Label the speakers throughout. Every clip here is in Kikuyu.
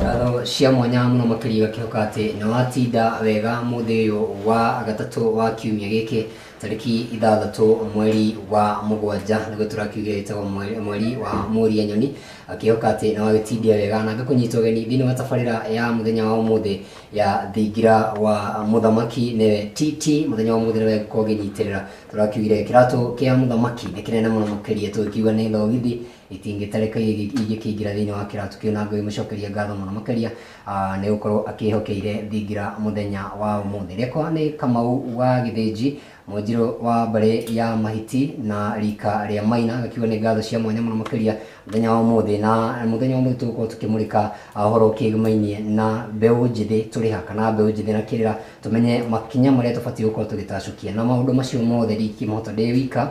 Speaker 1: ngatho cia mwanya mũno makĩria igakĩhoka atĩ nĩ watinda wega mũthĩ ũyũ wa gatatũ wa kiumia gĩkĩ tarĩki ithathatũ mweri wa mũgwanja nĩguo tũrakiugire ĩtagwo mweri- mweri wa mũria nyoni akĩhoka atĩ nĩ wagĩtindia wega na ngakũnyita ũgeni thĩinĩ wa tabarĩra ya mũthenya wa ũmũthĩ ya thingira wa mũthamaki nĩwe TT mũthenya wa ũmũthĩ nĩwe ngũkorwo ngĩnyitĩrĩra tũrakiugire kĩratũ kĩa mũthamaki nĩ kĩnene mũno makĩria tũkiuga nĩ thogithi Itingĩtarĩka ingĩkĩingĩra thĩinĩ wa kĩraatũ kĩu na ngĩmũcokeria ngatho mũno makĩria nĩ gũkorwo akĩĩhokeire thingira mũthenya wa ũmũthĩ. Rĩakwa nĩ Kamau wa Gĩthĩnji, Mũnjirũ wa mbarĩ ya Mahiti na rika rĩa Maina, ngakiuga nĩ ngatho cia mwanya mũno makĩria mũthenya wa ũmũthĩ. Na mũthenya wa ũmũthĩ tũgũkorwo tũkĩmũrĩka ũhoro ũkĩgĩmainie na mbeũ njĩthĩ tũrĩ ha, kana mbeũ njĩthĩ na kĩrĩra, tũmenye makinya marĩa tũbatiĩ gũkorwo tũgĩtacũkia. Na maũndũ macio mothe ndingĩkĩmahota ndĩ wika.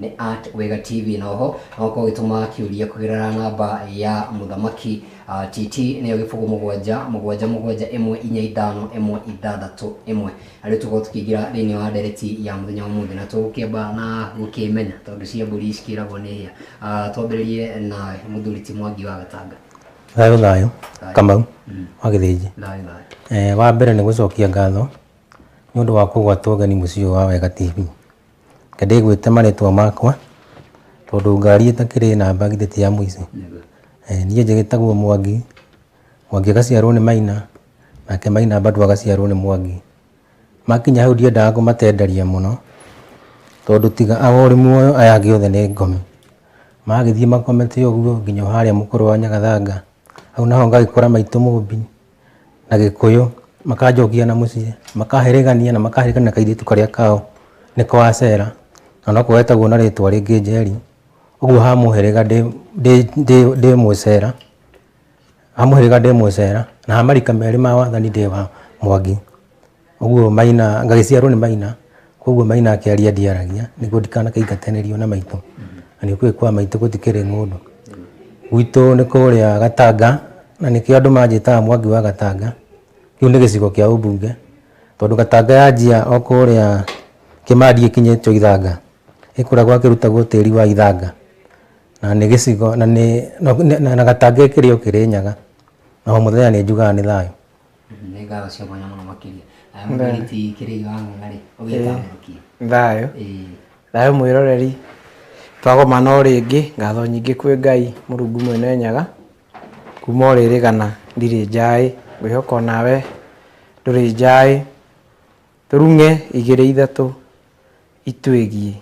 Speaker 1: nĩ at wega tv na oho no ũkorwo ũgĩtũma kĩũria kũgerera namba ya mũthamaki uh, tt nĩyo gĩbũgũ mũgwanja mũgwanja mũgwanja ĩmwe inya ithano ĩmwe ithathatũ ĩmwe na rĩu tũkorwo tũkĩingĩra thĩinĩ wa ndereti ya mũthenya wa mũthĩ na tũgũkĩamba na gũkĩmenya tondũ cia mbũri cikĩragwo nĩ hĩa uh, twambĩrĩrie na mũthuri ti mwangi wa gatanga thayå thayå Thayũ.
Speaker 2: kamau Mm. wa gä thä nji thayũ thayũ wa mbere nä gå cokia ngatho nä å ndå wa kå gwatwo geni må ciä wa wega tv Kĩndĩ gwĩte marĩtwa makwa tondũ ngari ĩtakĩrĩ namba githĩ ti ya mũici. Niĩ njĩtagwo Mwangi, Mwangi agaciarwo nĩ Maina, nake Maina bado agaciarwo nĩ Mwangi. Makinya hau ndiendaga kũmatenderia mũno tondũ tiga o ũrĩ muoyo aya angĩ othe nĩ ngomi. Magĩthiĩ makomete ũguo nginya o harĩa mũkũrũ wa Nyagathanga, hau naho ngagĩkora maitũ Mũmbi. na gĩkũyũ makanjokia na mũciĩ makaherĩgania na makaherĩgania na kairĩtu karĩa kao nĩko acera na noko getagwo na rĩtwa rĩngĩ njeri ũguo ha mũhĩrĩga ndĩ- ndĩ- ndĩ- ndĩ mũcera ha mũhĩrĩga ndĩ mũcera na ha marika merĩ ma wathani ndĩ wa mwangi Ũguo Maina, ngagĩciarwo nĩ Maina, koguo Maina akĩaria ndiaragia, nĩguo ndikanakĩingatanĩrio na maitũ. Na nĩ ũkĩũĩ kwa maitũ gũtikĩrĩ ng'ũndũ. Gwitũ nĩ kũrĩa Gatanga, na nĩkĩo andũ manjĩtaga Mwangi wa Gatanga. Kĩu nĩ gĩcigo kĩa ũmbunge, tondũ Gatanga yanjia o kũrĩa Kĩmandi ĩkinyĩtio Ithanga, ĩkoragwo akĩrutagwo tĩri wa Ithanga. Na nĩ gĩcigo, na nĩ, na Gatanga ĩkĩrĩ o Kĩrĩnyaga. Na o mũthenya nĩ njugaga nĩ thayũ. nĩ ngatho
Speaker 1: cia mwanya mũno makĩria aya mũthĩrĩti kĩrĩi wa ng'ang'arĩ ũgĩtamũrũkia thayũ ĩĩ
Speaker 3: thayũ mwĩroreri twagomana o rĩngĩ ngatho nyingĩ kwĩ ngai mũrungu mwene nyaga kuma o rĩrĩ gana ndirĩ njaĩ ngwĩhoka o nawe ndũrĩ njaĩ tũrung'e igĩrĩ ithatũ itwĩgiĩ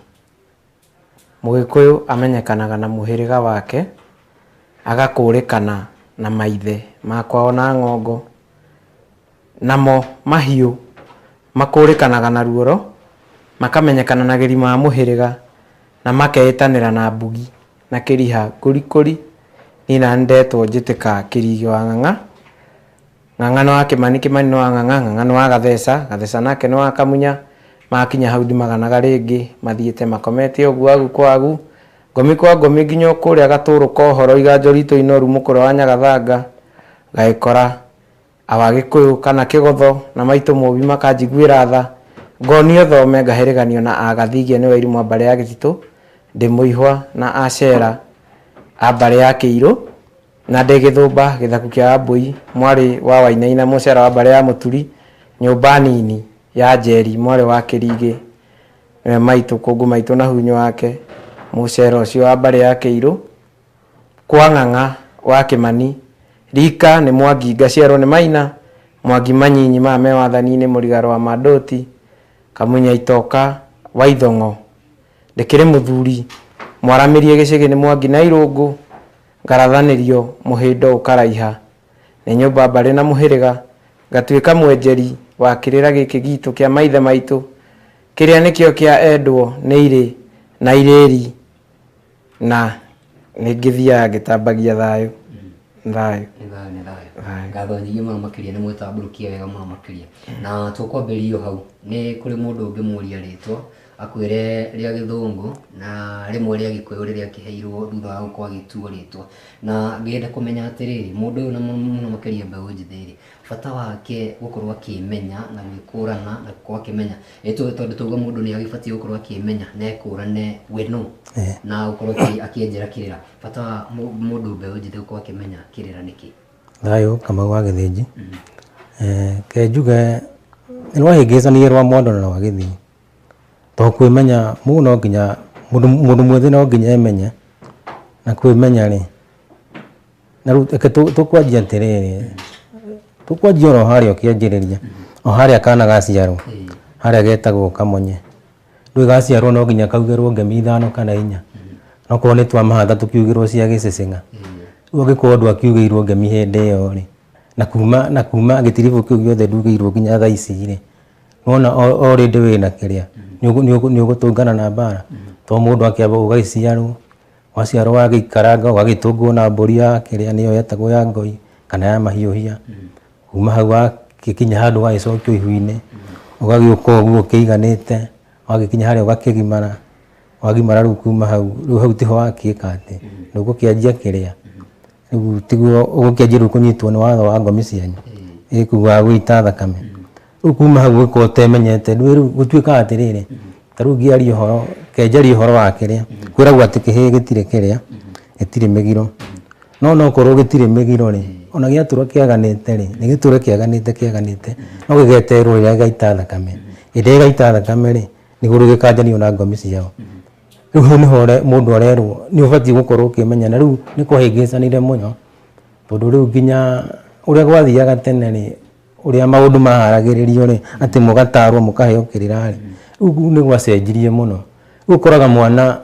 Speaker 3: Mũgĩkũyũ amenyekanaga na mũhĩrĩga wake, agakũũrĩkana na maithe ma kwao na ng'ongo. Namo mahiũ makũũrĩkanaga na ruoro, makamenyekana na gĩri ma mũhĩrĩga, na makeĩtanĩra na mbugi na kĩriha kũrikũri. Niĩ nani ndetwo njĩtĩka kĩrigi wa ng'ang'a. Ng'ang'a nĩ wa Kĩmani, Kĩmani nĩ wa Ng'ang'a, Ng'ang'a nĩ wa Gatheca, Gatheca nake nĩ wa Kamunya, makinya hau ndimaganaga rĩngĩ, mathiĩte makomete o ũguo agu kwa agu, ngomi kwa ngomi nginya o kũrĩa Gatũũrũ ka ũhoro, Iganjo riitũ inoru, Mũkũrwe wa Nyagathanga, Gagĩkora, Awagĩkũyũ, kana Kĩgotho, na maitũ Mũũmbi makanjiguĩra tha, ngonio thome, ngahĩrĩganio na a Gathigia nĩ Wairimũ a mbarĩ ya Gĩtitũ, Ndĩmũihwa na a Cera a mbarĩ ya Kĩirũ. Na ndĩ Gĩthũmba, Gĩthaku kĩa Wambũi, mwarĩ wa Wainaina, Mũcera wa mbarĩ ya Mũturi, Nyũmba nini ya Njeri, mwarĩ wa Kĩringĩ, nĩwe maitũ, Kũngũ maitũ na Hunyũ wake, Mũcera ũcio wa mbarĩ ya Kĩirũ, Kwa Ng'ang'a wa Kĩmani, Rika nĩ Mwangi ngaciarwo nĩ Maina, Mwangi manyinyi maya me wathani-inĩ, Mũrigaro wa Mandoti, Kamunya itoka, Waithong'o, ndĩkĩrĩ mũthuri, Mwaramĩrie gĩcĩgĩ nĩ Mwangi na Irũngũ. Ngarathanĩrio mũhĩndo ũkaraiha, nĩ nyũmba mbarĩ na mũhĩrĩga, ngatuĩka mwenjeri wa kĩrĩra gĩkĩ giitũ kĩa maithe maitũ, kĩrĩa nĩkĩo kĩa endwo nĩ irĩ na irĩĩri, na nĩ ngĩthiaga ngĩtambagia thayũ, thayũ. Nĩ thayũ, nĩ thayũ. Thayũ.
Speaker 1: Ngatho nyingĩ mũno makĩria, nĩ mwĩtambũrũkie wega mũno makĩria. Na tũkwambĩrĩria o hau, nĩ kũrĩ mũndũ ũngĩmũũria rĩĩtwa, akwĩre rĩa gĩthũngũ na rĩmwe rĩa gĩkũyũ rĩrĩa akĩheirwo thutha wa gũkorwo agĩtuo rĩtwa na ngenda kũmenya atĩrĩrĩ mũndũ ũyũ na mũno mũno makĩria mbeũ njĩthĩ rĩ bata wake gũkorwo akĩmenya na gwĩkũrana na gũkorwo akĩmenya Nĩ tũ- tondũ tauga mũndũ nĩ agĩbatiĩ gũkorwo akĩmenya na ekũrane we nũ Eh. na gũkorwo akĩ- akĩenjera kĩrĩra bata wa mũ- mũndũ mbeũ njĩthĩ gũkorwo akĩmenya kĩrĩra nĩkĩ thayũ kamau
Speaker 2: wa gĩthĩnji Eh, ke njuge nĩ rwahĩngĩcanire rwa mwandona na wa gĩthii To kwĩmenya mũndũ no nginya, mũndũ mwĩthĩ no nginya emenye, na kwĩmenya rĩ, na rĩu reke tũkwanjie atĩrĩrĩ, tũkwanjie oro harĩa ũkĩanjĩrĩria, o harĩa kana gaciarwo, harĩa getagwo kamonye. Ndũĩ gaciarwo no nginya kaugĩrwo ngemi ithano kana inya, okorwo nĩ twa mahatha tũkiugĩrwo cia gĩcĩcĩna. Rĩu angĩkorwo ndwa kiugĩirwo ngemi hĩndĩ ĩyo rĩ, na kuma, na kuma gĩtiribũ kĩu gĩothe ndugĩirwo nginya thaa ici rĩ. wona o rĩndĩ wĩna kĩrĩa nĩ ũgũtũngana na mbara to mũndũ akĩamba ũgagĩciarwo waciarwo wagĩikaranga ũgagĩtũngwo na mbũri ya kĩrĩa nĩyo yetagwo ya ngoi kana ya mahiũhia kuma hau wagĩkinya handũ ũgagĩcokio ihu-inĩ ũgagĩũka ũguo ũkĩiganĩte wagĩkinya harĩa ũgakĩgimara wagimara rĩu kuma hau rĩu hau tiho wakĩka atĩ nĩ ũgũkĩanjia kĩrĩa rĩu tiguo ũgũkĩanjĩrĩria kũnyitwo nĩ watho wa ngomi cianyu ĩ kuu wa gũita thakame rĩu kuma hau ũgĩkorwo ũtemenyete rĩu rĩu gũtuĩkaga atĩrĩrĩ ta rĩu ngĩaria ũhoro kenjaria ũhoro wa kĩrĩa kwĩragwo atĩ kĩhĩĩ gĩtirĩ kĩrĩa gĩtirĩ mĩgiro no no korwo gĩtirĩ mĩgiro rĩ ona gĩatũra kĩaganĩte rĩ nĩ gĩtũre kĩaganĩte kĩaganĩte no gĩgeterwo rĩrĩa gĩgaita thakame hĩndĩ ĩrĩa gĩgaita thakame rĩ nĩguo rĩu gĩkanjanio na ngomi ciao Rĩu hau nĩho ũre- mũndũ arerwo nĩ ũbatiĩ gũkorwo ũkĩmenya na rĩu nĩ kũhĩngĩcanire mũno tondũ rĩu nginya ũrĩa gwathiaga tene rĩ ũrĩa maũndũ maharagĩrĩrio rĩ atĩ mũgatarwo mũkaheo kĩrĩra rĩ rĩu nĩ gwacenjirie mũno rĩu ũkoraga mwana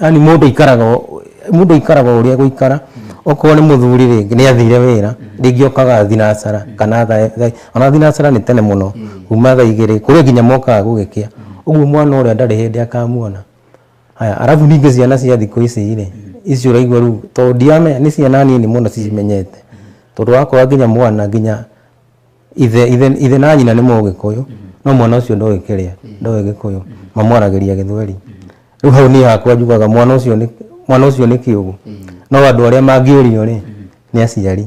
Speaker 2: yani mũndũ aikaraga o- mũndũ aikaraga o ũrĩa egũikara okorwo nĩ mũthuri rĩngĩ nĩ athire wĩra rĩngĩ okaga thinacara kana tha- tha- Ona thinacĩra nĩ tene mũno kuma thaa igĩrĩ kũrĩ nginya mokaga gũgĩkĩa ũguo mwana ũrĩa ndarĩ hĩndĩ akamuona haya arabu ningĩ ciana cia thikũ ici rĩ ici ũraigua rĩu tondũ ndiramenya nĩ ciana nini mũno cimenyete tondũ wakora nginya mwana nginya ithe ithe ithe na nyina nĩ mũgĩkũyũ no mwana ũcio ndoĩ kĩrĩa ndoĩ gĩkũyũ mamwaragĩria gĩthweri rĩu hau niĩ hakwa njugaga mwana ũcio nĩ mwana ũcio nĩ kĩũgũ no andũ arĩa mangĩũrio rĩ nĩ aciari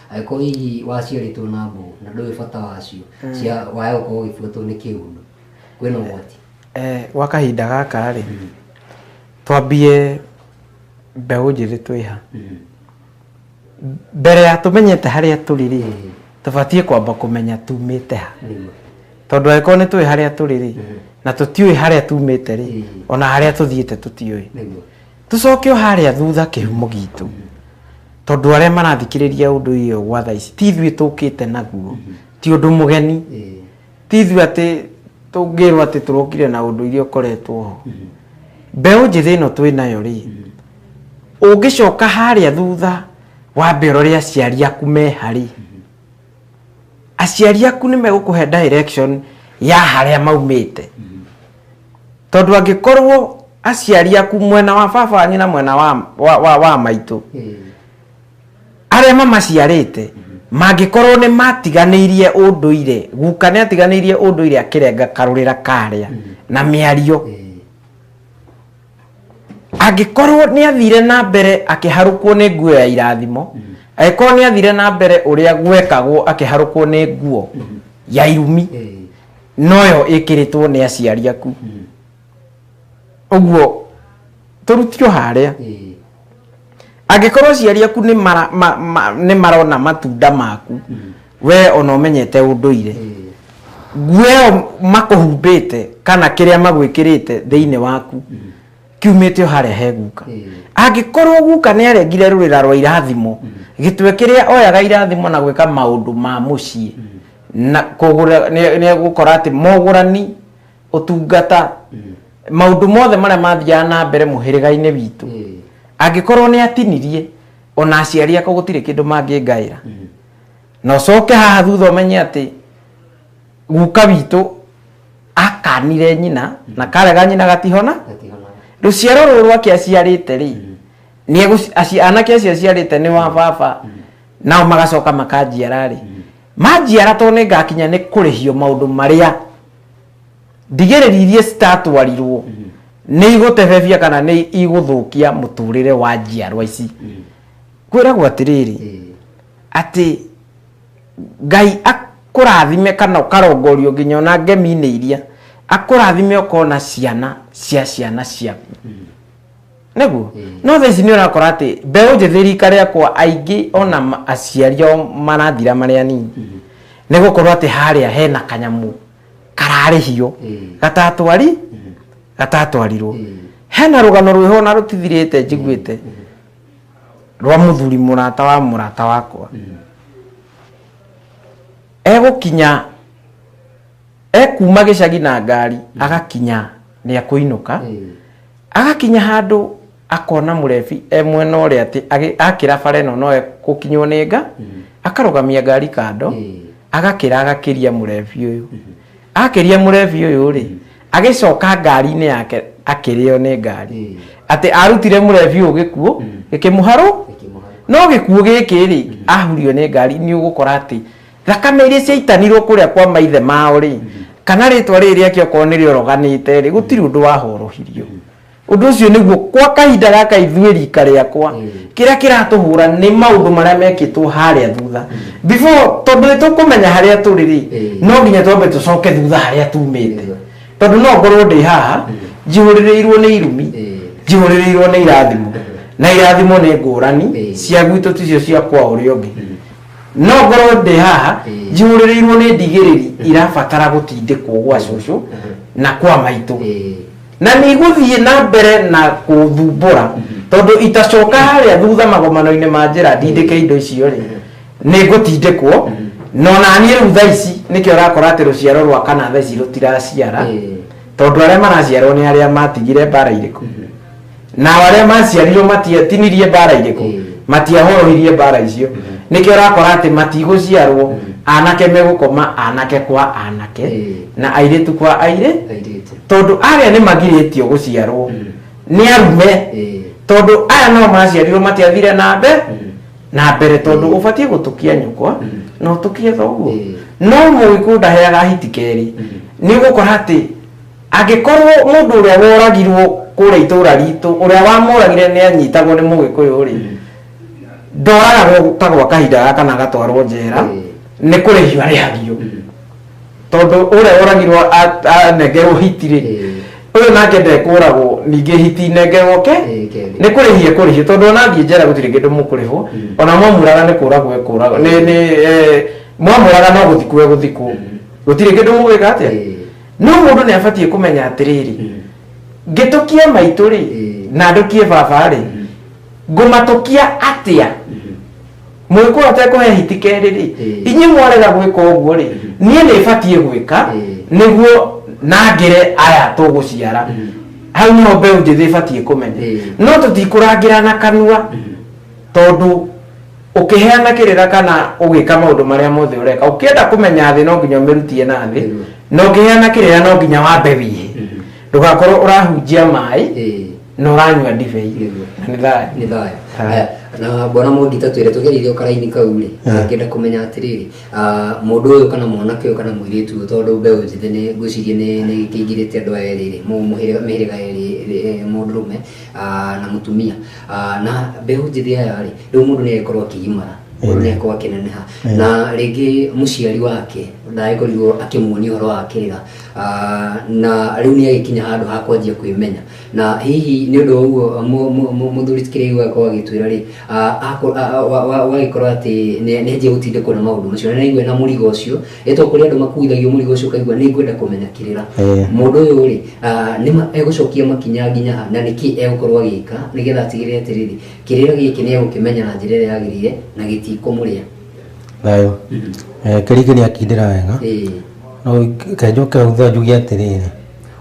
Speaker 1: angĩkorwo hihi waciarĩtwo na mbũgũ na ndũĩ bata wacio cia waya gũkorwo ũgĩbuatwo nĩ kĩũndũ kwĩna ũgwati Eh, gwa kahinda
Speaker 3: gaka rĩ twambie mbeũ njĩthĩ twĩha mbere ya tũmenyete harĩa tũrĩ rĩ tũbatiĩ kwamba kũmenya tumĩte ha nĩguo tondũ angĩkorwo nĩ tũĩ harĩa tũrĩ rĩ na tũtiũĩ harĩa tumĩte rĩ ona harĩa tũthiĩte tũtiũĩ nĩguo Tũcoke o harĩa thutha kĩhumo gitũ tondũ arĩa marathikĩrĩria ũndũ ũyũ gwa thaa ici ti ithuĩ tũkĩte naguo ti ũndũ mũgeni ti ithuĩ atĩ tũngĩrwo atĩ tũrokire na ũndũ iria ũkoretwo ho mbeũ njĩthĩ ĩno twĩ nayo rĩ ũngĩcoka harĩa thutha wambe ũrore aciari aku meha rĩ aciari aku nĩ megũkũhe direction ya harĩa maumĩte tondũ angĩkorwo aciari aku mwena wa baba wanyu na mwena wa, wa, wa, wa maitũ arĩa mamaciarĩte mangĩkorwo nĩ matiganĩirie ũndũire guka nĩ atiganĩirie ũndũire akĩrenga karũrĩra karĩa na mĩario angĩkorwo nĩ athire na mbere akĩharũkwo nĩ nguo ya irathimo angĩkorwo nĩ athire na mbere ũrĩa gwekagwo akĩharũkwo nĩ nguo ya irumi noyo ĩkĩrĩtwo nĩ aciari aku ũguo tũrutirwo harĩa angĩkorwo aciari aku nĩ mara- ma- ma- nĩ marona matunda maku we ona ũmenyete ũndũire nguo ĩyo makũhumbĩte kana kĩrĩa magwĩkĩrĩte thĩinĩ waku kiumĩte o harĩa he guka angĩkorwo guka nĩ arengire rũrĩra rwa irathimo gĩtwe kĩrĩa oyaga irathimo na gwĩka maũndũ ma mũciĩ na kũgũra nĩ nĩ egũkora atĩ mogũrani ũtungata maũndũ mothe marĩa mathiaga na mbere mũhĩrĩga-inĩ witũ angĩkorwo nĩ atinirie ona aciari akwa gũtirĩ kĩndũ mangĩngaĩra na ũcoke haha thutha ũmenye atĩ guka witũ akanire nyina na karega nyina gatihona rũciaro rũrũ rwake aciarĩte rĩ nĩ egũci- aci- anake acio aciarĩte nĩ wa baba nao magacoka makanjiara rĩ manjiara tondũ nĩ ngakinya nĩ kũrĩhio maũndũ marĩa ndigĩrĩri iria citatwarirwo nĩ igũtebebia kana nĩ igũthũkia mũtũrĩre wa njiarwa ici kwĩragwo atĩrĩrĩ atĩ ngai akũrathime kana ũkarongorio nginya ona ngemi-inĩ iria akũrathime ũkona ciana cia ciana ciaku Nĩguo. No thaa ici nĩ ũrakora atĩ mbeũ njĩthĩ rika rĩakwa aingĩ ona ma- aciari ao marathira marĩ anini nĩ gũkorwo atĩ harĩa hena kanyamũ kararĩhio gatatwari gatatwarirwo hena rũgano rwĩho ona rũtithirĩte njiguĩte rwa mũthuri mũrata wa mũrata wakwa egũkinya ekuma gĩcagi na ngari agakinya nĩ akũinũka agakinya handũ akona mũrebi e mwena ũrĩa atĩ agĩ- akĩra bara ĩno no gũkinywo nĩ nga akarũgamia ngari kando agakĩra agakĩria mũrebi ũyũ akĩria mũrebi ũyũ rĩ agĩcoka ngari-inĩ yake akĩrĩo nĩ ngari atĩ arutire mũrebi ũyũ gĩkuũ gĩkĩmũharũ no gĩkuũ gĩkĩ rĩ ahurio nĩ ngari nĩ ũgũkora atĩ thakame iria ciaitanirwo kuria kwa maithe mao ri kana ritwa riri riake okorwo ni rioroganite ri gutiri undu wahorohirio undu ucio niguo kwa kahinda gaka ithue rika riakwa kiria kiratuhura ni maundu maria mekitwo haria thutha before tondu nitukumenya haria turi ri no nginya twambe tucoke thutha haria tumite tondu no ngorwo ndi haha njihuririrwo ni irumi njihuririrwo ni irathimo na irathimo ni ngurani cia gwitå ticio cia kwa å rä å ngä no ngorwo ndĩ haha Ĩĩ. njihũrĩrĩirwo nĩ ndigĩrĩri irabatara gũtindĩkwo gwa cũcũ Mhm. na kwa maitũ Ĩĩ. na nĩ igũthiĩ na mbere na kũthumbũra tondũ itacoka harĩa thutha magomano-inĩ ma njĩra ndindĩke indo icio rĩ nĩ ngũtindĩkwo no naniĩ rĩu thaa ici nĩkĩo ũrakora atĩ rũciaro rwa kana thaa ici rũtiraciara Ĩĩ. tondũ arĩa maraciarwo nĩ arĩa matigire mbara irĩkũ nao arĩa maciarirwo matiatinirie mbara irĩkũ Mm. matiahorohirie mbara icio nĩkĩo ũrakora atĩ matigũciarwo anake megũkoma anake kwa anake Mm. na airĩtu kwa airĩ airĩtu tondũ arĩa nĩ magirĩtio gũciarwo Mm. nĩ arume Eh, tondũ aya nao maciarirwo matiathire na mbe Mm. na mbere tondũ ũbatiĩ gũtũkia nyũkwa Mm. na ũtũkie thoguo Mm. no mũgĩkũndaheaga hiti kerĩ Mm. nĩ ũgũkora atĩ Angĩkorwo mũndũ ũrĩa woragirwo kũrĩa itũũra ritũ, ũrĩa wamũragire nĩ anyitagwo nĩ Mũgĩkũyũ-rĩ, ndoragagwo ta gwa kahinda gaka na agatwarwo njera, nĩ kũrĩhio arĩhagio. Tondũ ũrĩa woragirwo a- anengerwo hiti-rĩ, ũyũ nake ndekũragwo ningĩ hiti inengerwo ke, nĩ kũrĩhio ekũrĩhio. Tondũ ona athiĩ njera gũtirĩ kĩndũ mũkũrĩhwo, ona mwamũraga nĩ kũragwo ekũragwo. Nĩ nĩ eh, mwamũraga no gũthikwo egũthikwo. Gũtirĩ kĩndũ mũgwĩka atĩa? no mũndũ nĩ abatiĩ kũmenya atĩrĩrĩ ngĩtũkia maitũ rĩ na ndũkie baba rĩ ngũmatũkia atĩa mwĩkũwa tekũhe hiti kerĩ rĩ inyuĩ mwarega gwĩka ũguo rĩ niĩ nĩ batiĩ gwĩka nĩguo nangĩre aya tũgũciara hau nĩho mbeũ njĩthĩ ĩbatiĩ kũmenya no tũtikũrangĩra na kanua tondũ ũkĩheana kĩrĩra kana ũgĩka maũndũ marĩa mothe ũreka ũkĩenda kũmenya thĩ no nginya ũmĩrutie na thĩ Ĩno. na ũkĩheana kĩrĩra no nginya wambe wĩhe Mhm. ndũgakorwo ũrahunjia maĩ Ĩĩ. na ũranyua ndibei Nĩguo. na nĩ thayũ nĩ thayũ Thayũ. Aya, na
Speaker 1: bwana mũngita twĩre tũgereire ũkaraini kau rĩ Yeah. ngenda kũmenya atĩrĩrĩ ah, mũndũ ũyũ kana mwanake ũyũ kana mũirĩtu ũyũ tondũ mbeũ njĩthĩ nĩ ngwĩciria nĩ nĩ kĩingĩrĩte andũ aya erĩ rĩ mũ- mũhĩrĩga mĩhĩrĩga erĩ eh, mũndũrũme ah, na mũtumia Ah, na mbeũ njĩthĩ aya rĩ rĩu mũndũ nĩagĩkorwo akĩgimara mũndũ nĩagĩkorwo akĩneneha na rĩngĩ mũciari wake ndagĩkorirwo akĩmuonia ũhoro wa kĩrĩra Ah, na rĩu nĩagĩkinya handũ ha kwanjia kwĩmenya na hihi nĩ ũndũ wa ũguo mu- mu- mu- mũthuri kĩrĩu agakorwo agĩtwĩra rĩ ah, ako- ah, wa- wa- wagĩkorwo atĩ nĩ- nĩanjia gũtindĩkwo nĩ maũndũ macio na nĩaigua na mũrigo ũcio ĩtwa kũrĩ andũ makuithagio mũrigo ũcio kaigua nĩ ngwenda kũmenya kĩrĩra Eh. mũndũ ũyũ rĩ ah, nĩ ma- egũcokia makinya nginya ha na nĩkĩ egũkorwo agĩka nĩgetha atigĩrĩre atĩrĩrĩ kĩrĩra gĩkĩ nĩ egũkĩmenya na njĩra ĩrĩa yagĩrĩire na gĩtikũmũrĩa thayũ Eh, kĩrĩkĩ
Speaker 2: nĩ akindĩra wega Ĩĩ. no kenjoke hutha njuge atĩrĩrĩ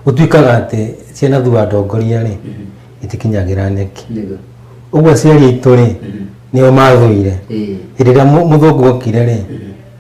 Speaker 2: gũtuĩkaga atĩ ciana thua ndongoria rĩ itikinyagĩra nyeki Nĩguo. ũguo aciari aitũ rĩ nĩo mathũire Ĩĩ. hĩndĩ ĩrĩa mũ- mũthũngũ okire rĩ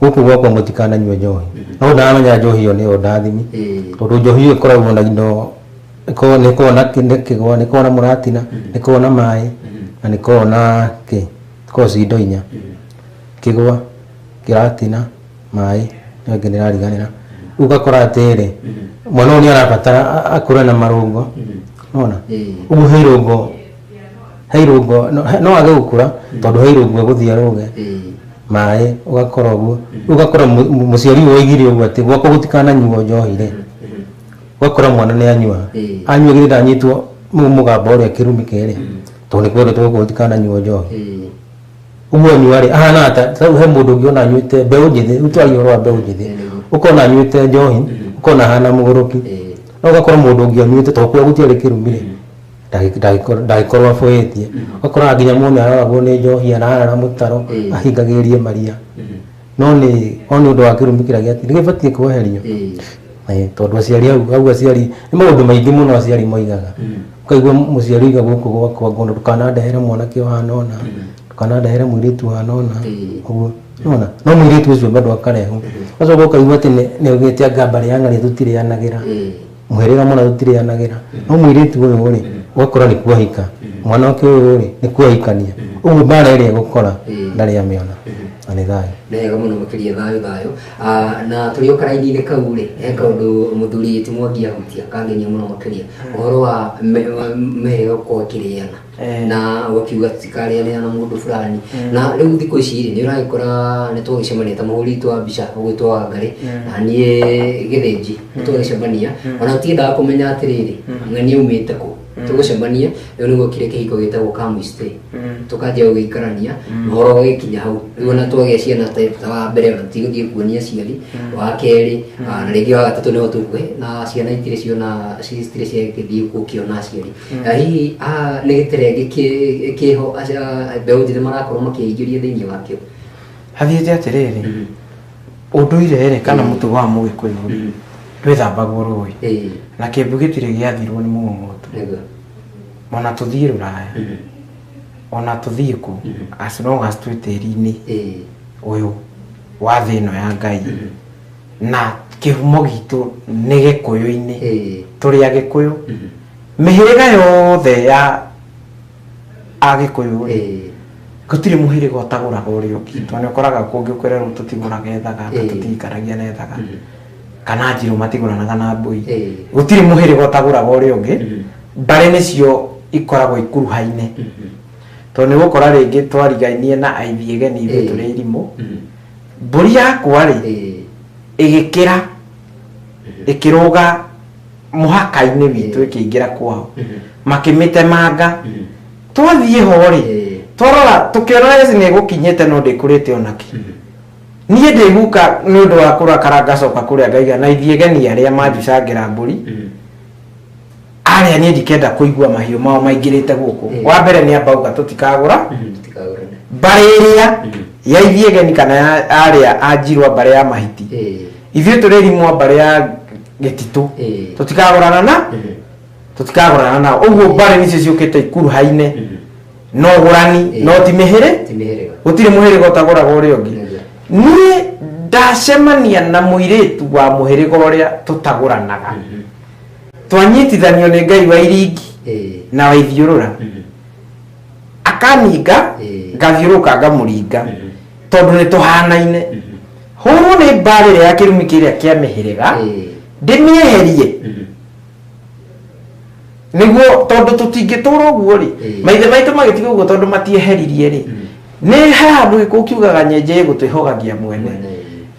Speaker 2: gũkũ gwakwa mũtikananyue njohi no ndaramenya njohi ĩyo nĩyo ndathimi Ĩĩ. tondũ njohi ĩyo ĩkoragwo na indo ĩkoragwo- nĩ ĩkoragwo na kĩ- nĩ kĩgwa nĩ ĩkoragwo na mũratina nĩ ĩkoragwo na maĩ na nĩ ĩkoragwo na kĩ ĩkoragwo ci indo inya kĩgwa kĩratina maĩ ĩyo ĩngĩ ndĩrariganĩra rĩu ũgakora atĩrĩ mwana ũyũ nĩ arabatara a- akũre na marũngo nona Ĩĩ. ũmũhe irũngo he irũngũ no- he- no wage gũkũra tondũ he irũngũ egũthiĩ arũge maĩ ũgakora ũguo rĩu ũgakora mũ- mũ- mũciari ũyũ waigire ũguo atĩ gwakwa gũtikananyuo njohi rĩ ũgakora mwana nĩ anyua anyua githĩ ndanyitwo nĩ mũgamba ũrĩa kĩrumi kerĩ tondũ nĩ kwendetwo gũkũ gũtikananyuo njohi ũguo anyua rĩ ahana ta rĩu he mũndũ ũngĩ ona anyuĩte mbeũ njĩthĩ rĩu twaria ũhoro wa mbeũ njĩthĩ ũkona anyuĩte njohi ũkona ahana mũgũrũki no ũgakora mũndũ ũngĩ anyuĩte tondũ kwao gũtiarĩ kĩrumi rĩ ndagĩ- ndagĩkor- ndagĩkorwo aboetie ũkoraga nginya mũndũ nĩ aroragwo nĩ njohi ararara mũtaro Ĩĩ. ahingagĩrĩrie maria no nĩ o nĩ ũndũ wa kĩrumi kĩrĩa gĩati nĩ gĩbatiĩ kweherio Ĩĩ, tondũ aciari au au aciari nĩ maũndũ maingĩ mũno aciari moigaga ũkaigua mũciari oiga gũkũ gwakwa ngũndũ ndũkanandehere mwanake ũhana ũna ndũkanandehere mũirĩtu ũhana ũna Ĩĩ. ũguo nona no mũirĩtu ũcio bado akarehwo ũcoka ũkaigua atĩ nĩ- nĩ augĩte anga mbarĩ ya ng'arĩ tũtirĩanagĩra Ĩĩ. mũhĩrĩga mũna tũtirĩanagĩra no mũirĩtu ũyũ rĩ ũgakora nĩ kuahika mwanake ũyũ rĩ nĩ kuahikania ũguo mbara ĩrĩa gũkora ndarĩ amĩona na nĩ thayũ wega muno makiria
Speaker 1: thayo thayo Ah, na turi okaraini-inĩ kau rĩ he kaundu muthuri ti mwangi ahutia kangenia muno makiria uhoro wa me- wa meheo kwa kiriana na gũkiuga tikarĩanĩra na mũndũ fulani na rĩu thikũ ici rĩ nĩ ũragĩkora nĩ twagĩcemania ta mũhũri witũ wa mbica ũgwĩtwo wa ngarĩ na niĩ gĩthĩnji nĩ twagĩcemania ona tiendaga kũmenya atĩrĩrĩ ng'ania umĩte kũ tũgũcemania rĩu nĩguo kĩrĩ kĩhiko gĩtagwo kamistĩ tũkanjia gũgĩikarania ũhoro ũgĩkinya hau rĩu ona twagĩa ciana type ta wa mbere ona tigũthiĩ kuonia aciari wa kerĩ ah, na rĩngĩ wa gatatũ nĩho tũkue na ciana itirĩ ciona citirĩ ciagĩthiĩ gũkĩona aciari Mm. Ah, hihi ah, nĩ gĩterenge kĩ- kĩho aci- ah, mbeũ njĩthĩ marakorwo makĩingĩria thĩinĩ wakĩo hathiĩte
Speaker 3: atĩrĩrĩ Mhm. ũndũire rĩ kana Mm. mũtugo wa mũgĩkũyũ rĩ Mhm. ndwĩthambagwo rũĩ Ĩĩ, na kĩmbu gĩtirĩ gĩathirwo nĩ mũmomotu nĩguo. ona tũthiĩ rũraya Mhm. ona tũthiĩ kũ Mhm. as long as twĩ tĩri-inĩ Ĩĩ. ũyũ wa thĩ ĩno ya ngai Mhm. na kĩhumo gitũ nĩ gĩkũyũ-inĩ Eh. tũrĩ agĩkũyũ Mhm. mĩhĩrĩga yothe ya agĩkũyũ rĩ Eh. gũtirĩ mũhĩrĩga ũtagũraga ũrĩa ũngĩ tondũ nĩ ũkoraga kũngĩ kwĩrerwo tũtigũraga ethaga Eh. tũtiikaragia na ethaga Mhm. kana njirũ matigũranaga na mbũi Eh. gũtirĩ mũhĩrĩga ũtagũraga ũrĩa ũngĩ Mhm. mbarĩ nĩcio ikoragwo ikuruhaine Mhm. tondũ nĩ gũkora rĩngĩ twarigainie na aithiegeni ithuĩ Eh. tũrĩ irimũ Mhm. mbũri yakwa rĩ Eh, ĩgĩkĩra ĩkĩrũga mũhaka-inĩ witũ ĩkĩingĩra kwao makĩmĩtemanga mhm. twathiĩ ho rĩ Eh, twarora tũkĩona rĩci nĩ ĩgũkinyĩte no ndĩkũrĩte onakĩ niĩ ndĩguka nĩ ũndũ wa kũrakara ngacoka kũrĩa ngaiga na ithiĩ geni arĩa manjicangĩra mbũri mhm. arĩa niĩ ndikenda kũigua mahiũ mao maingĩrĩte gũkũ Mm. wa mbere nĩ ambauga tũtikagũra Tũtikagũrane. mbarĩ ĩrĩa Mm. ya ithiegeni kana ya arĩa a njirwa mbarĩ ya mahiti Eh, ithuĩ tũrĩrimwo mbarĩ ya gĩtitũ eh, tũtikagũrana na mhm, tũtikagũrana nao ũguo mbarĩ nĩcio ciũkĩte ikuruhaine mhm. no ũgũrani Mm. no ti mĩhĩrĩ Ti mĩhĩrĩga. gũtirĩ mũhĩrĩga ũtagũraga ũrĩa ũngĩ Nĩguo. niĩ ndacemania na mũirĩtu wa mũhĩrĩga ũrĩa tũtagũranaga Mhm. twanyitithanio nĩ ngai wa iringi Eh. na waithiũrũra Mhm. akaninga Eh. ngathiũrũka ngamũringa Mhm. tondũ nĩ tũhanaine Mhm. hũrwo nĩ mbaara ĩrĩa ya kĩrumi kĩrĩa kĩa mĩhĩrĩga Eh. ndĩmĩeherie Mhm. nĩguo tondũ tũtingĩtũra ũguo rĩ Eh. maithe maitũ magĩtiga ũguo tondũ matieheririe rĩ Mm. nĩ he handũ gĩkũ kiugaga nyenje gũtwĩhogagia mwene Mwene.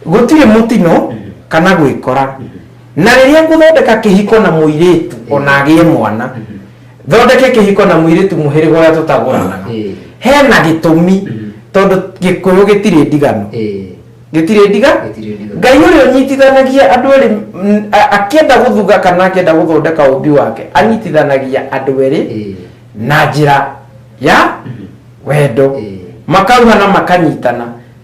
Speaker 3: gũtirĩ mũtino Mhm. kana gwĩkora Mhm. na rĩrĩa ngũthondeka kĩhiko na mũirĩtu ona agĩe mwana thondeke kĩhiko na mũirĩtu mũhĩrĩga ũrĩa tũtagũranaga Eh. hena gĩtũmi tondũ gĩkũyũ gĩtirĩ ndigano Eh. gĩtirĩ ndiga Gĩtirĩ ndigano. ngai ũrĩa ũnyitithanagia andũ erĩ mm, a- akĩenda gũthuga kana akĩenda gũthondeka ũmbi wake anyitithanagia andũ erĩ Eh. na njĩra ya wendo Eh. makauhana makanyitana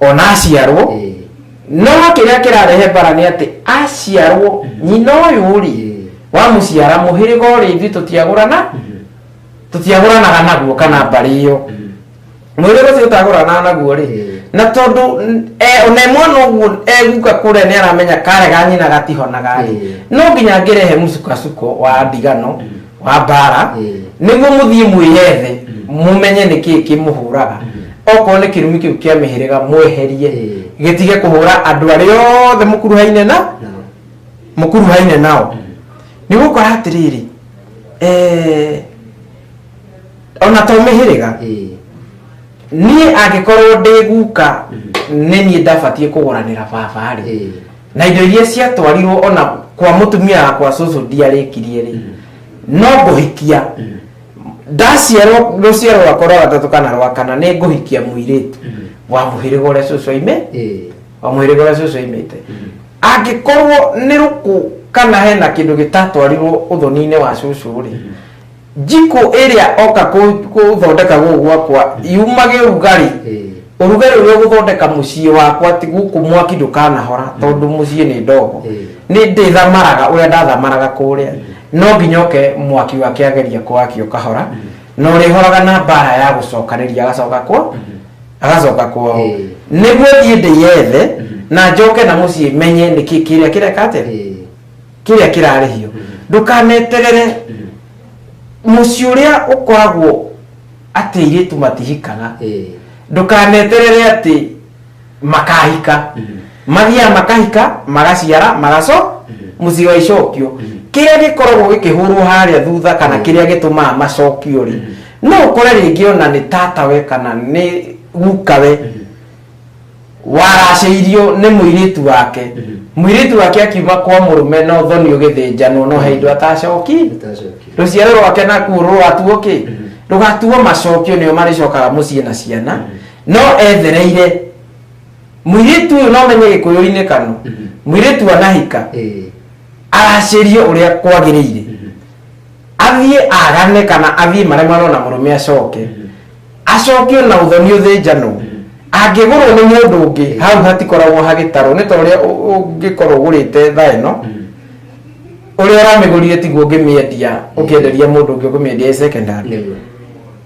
Speaker 3: ona aciarwo Eh, no kĩrĩa kĩrarehe mbara nĩ atĩ aciarwo nyina ũyũ rĩ eh, wamũciara mũhĩrĩga ũrĩa ithuĩ tũtiagũrana mhm, tũtiagũranaga naguo kana mbarĩ ĩyo mhm, mũhĩrĩga ũcio ũtagũranaga naguo rĩ Eh. na tondũ n- e- ona mwana ũguo eguka kũrĩa nĩ aramenya karega nyina gatihonaga rĩ Eh. no nginya angĩrehe mũcukacuko wa ndigano wa mbara nĩguo mũthiĩ mwĩyethe mũmenye nĩ kĩĩ kĩmũhũraga okorwo nĩ kĩrumi kĩu kĩa mĩhĩrĩga mweherie gĩtige kũhũra andũ arĩa othe mũkuruhaine na mũkuruhaine nao nĩ gũkora atĩrĩrĩ eh, ona to mĩhĩrĩga niĩ angĩkorwo ndĩ guka nĩ niĩ ndabatiĩ kũgũranĩra baba rĩ na indo iria ciatwarirwo ona kwa mutumia wakwa cucu ndiarĩkirie rĩ no ngũhikia ndaciarwo rũciaro rwakwa rwa gatatũ kana rwa kana nĩ ngũhikia mũirĩtu wa mũhĩrĩga ũrĩa cucu aime Eh, wa mũhĩrĩga ũrĩa cucu aimĩte angĩkorwo nĩ rũkũ kana hena kĩndũ gĩtatwarirwo ũthoni-inĩ wa cucu rĩ njiko ĩrĩa oka kũ- gũthondeka gũkũ gwakwa yumage ũrugarĩ Eh. ũrugarĩ ũrĩa ũgũthondeka mũciĩ wakwa ti gũkũ mwaki ndũkanahora tondũ mũciĩ nĩ ndogo Eh. nĩ ndĩthamaraga ũrĩa ndathamaraga kũrĩa no nginya oke mwaki wake ageria kwaki ũkahora na ũrĩhoraga na mbara ya gũcokanĩria agacoka kwa agacoka kwao Eh. nĩguo thiĩ ndĩyethe na njoke na mũciĩ menye nĩkĩ kĩrĩa kĩreka atĩa Eh. kĩrĩa kĩrarĩhio ndũkaneterere mũciĩ ũrĩa ũkoragwo atĩ airĩtu matihikaga Eh. ndũkaneterere atĩ makahika mathiaga makahika magaciara magaco mũciĩ wa icokio kĩrĩa gĩkoragwo gĩkĩhũrwo harĩa thutha kana kĩrĩa gĩtũmaga macokio rĩ no ũkore rĩngĩ ona nĩ tatawe kana nĩ gukawe waracĩirio nĩ mũirĩtu wake mũirĩtu wake akiuma kwa mũrũme no thoni ũgĩthĩnjanwo no he indo atacoki Ndacokire. rũciaro rwake nakuo rũgatuo kĩ rũgatuo macokio nĩo marĩcokaga mũciĩ na ciana no ethereire mũirĩtu ũyũ no menye gĩkũyũ-inĩ kano mũirĩtu anahika Eh, aracĩrie ũrĩa kwagĩrĩire athiĩ agane kana athiĩ maremano na mũrũme acoke acokio na ũthoni ũthĩnjanwo angĩgũrwo nĩ mũndũ ũngĩ hau hatikoragwo hagĩtarwo nĩ ta ũrĩa ũ- ũngĩkorwo ũgũrĩte tha ĩno ũrĩa ũramĩgũrire tiguo ũngĩmĩendia ũkĩenderia mũndũ ũngĩ ũkũmĩendia ĩ secondary nĩguo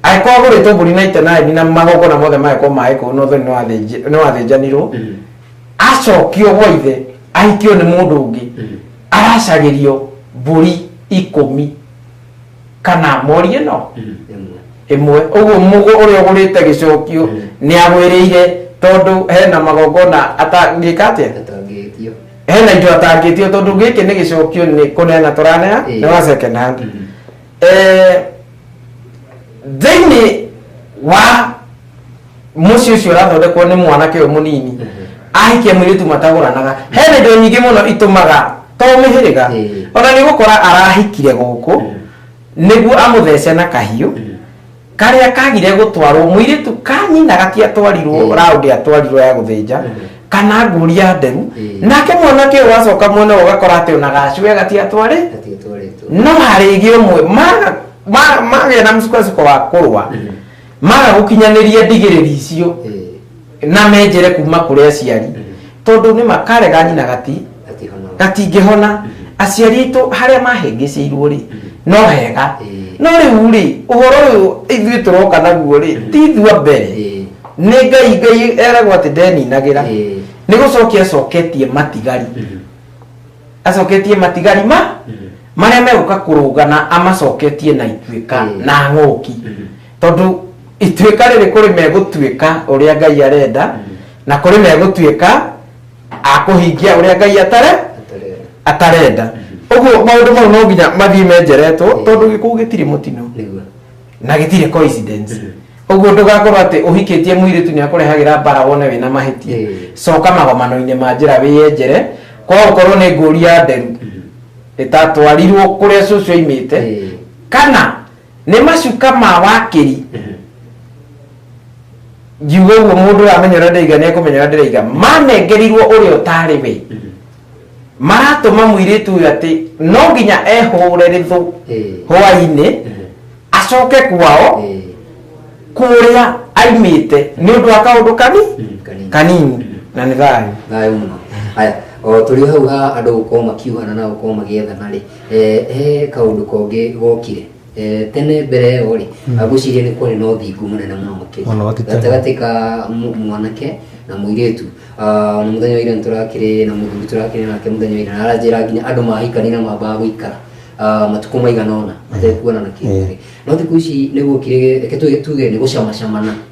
Speaker 3: angĩkorwo agũrĩte mbũri na itenani na magongona mothe magekwo maĩ kũu na ũthoni nĩwathĩnji- nĩwathĩnjanirwo acokio gwa ithe ahikio nĩ mũndũ ũngĩ aracagĩrio mbũri ikũmi kana morie no Ĩmwe. ĩmwe ũguo mũgũ ũrĩa ũgũrĩte gĩcokio Mm. nĩ agwĩrĩire tondũ hena magongona atangĩka atĩa Atangĩtio. hena indo atangĩtio tondũ gĩkĩ nĩ gĩcokio nĩ kũneana tũraneana Ĩĩ. nĩ wa second hand Mm. Eh, thĩinĩ wa mũciĩ ũcio ũrathondekwo nĩ mwanake ũyũ mũnini ahikia mũirĩtu matagũranaga hena indo nyingĩ mũno itũmaga to mĩhĩrĩga Ĩĩ. ona nĩ gũkora arahikire gũkũ nĩguo amũthece na kahiũ karĩa kagire gũtwarwo mũirĩtu kanyina gatiatwarirwo Ĩĩ. raũndi atwarirwo ya gũthĩnja kana ngũria nderu Ĩĩ. nake mwanake ũyũ wacoka mwena ũyũ ũgakora atĩ ona gacue gatiatwarĩ Gatiatwarĩtwo. no harĩgĩ ũmwe maga- ma- magĩa na msukosuko wa kũrũa maga gũkinyanĩria ndigĩrĩri icio Eh, na menjere kuma kũrĩ aciari tondũ nĩ makarega nyina gati ati hono. gatingĩhona aciari aitũ harĩa mahĩngĩcĩirwo rĩ no hega Eh. no rĩu rĩ ũhoro ũyũ ithuĩ tũroka naguo rĩ ti ithua mbere Eh, nĩ ngai ngai eragwo atĩ ndeninagĩra Eh. nĩ gũcokia acoketie matigari acoketie matigari ma marĩa megũka kũrũgana amacoketie na ituĩka Mm. na ng'ũki tondũ ituĩka rĩrĩ kũrĩ megũtuĩka ũrĩa ngai arenda na kũrĩ megũtuĩka akũhingia ũrĩa ngai atare atarenda ũguo maũndũ mau no nginya mathiĩ menjeretwo tondũ gĩkũũ gĩtirĩ mũtino nĩguo na gĩtirĩ coincidence ũguo ndũgakorwo atĩ ũhikĩtie mũirĩtu nĩ akũrehagĩra mbara wone wĩna mahĩtia Eh. coka magomano-inĩ ma njĩra wĩyenjere kwa gũkorwo nĩ ngũri ya nderu ĩtatwarirwo kũrĩa cũcũ aimĩte Eh. kana nĩ macuka ma wakĩri ngiuga ũguo mũndũ ũramenya ũrĩa ndĩraiga nĩ ekũmenya ũrĩa ndĩraiga manengerirwo ũrĩa ũtarĩ we maratũma mũirĩtu ũyũ atĩ no nginya ehũre rĩthũ hwainĩ acoke kwao kũrĩa aimĩte nĩ ũndũ wa kaũndũ kani kanini na nĩ thayũ thayũ mũno haya
Speaker 1: o tũrĩ hau ha andũ gũkorwo makiugana na gũkorwo magĩethana rĩ eh, he kaũndũ kongĩ gokire Eh, tene mbere ĩyo rĩ agwĩciria nĩ kwarĩ na ũthingu mũnene mũno makĩria Mũno makĩria. gatagatĩ ka mu- mwanake na mũirĩtu Ah, na mũthenya wa ira nĩtũrakĩrĩ na mũthuri tũrakĩrĩ nake mũthenya wa ira na aranjĩra nginya andũ mahikania na mambaga gũikara Ah, matukũ maigana ona matekuonana kĩmwĩrĩ no thikũ ici nĩgũkire reke tuge tuge nĩ gũcamacamana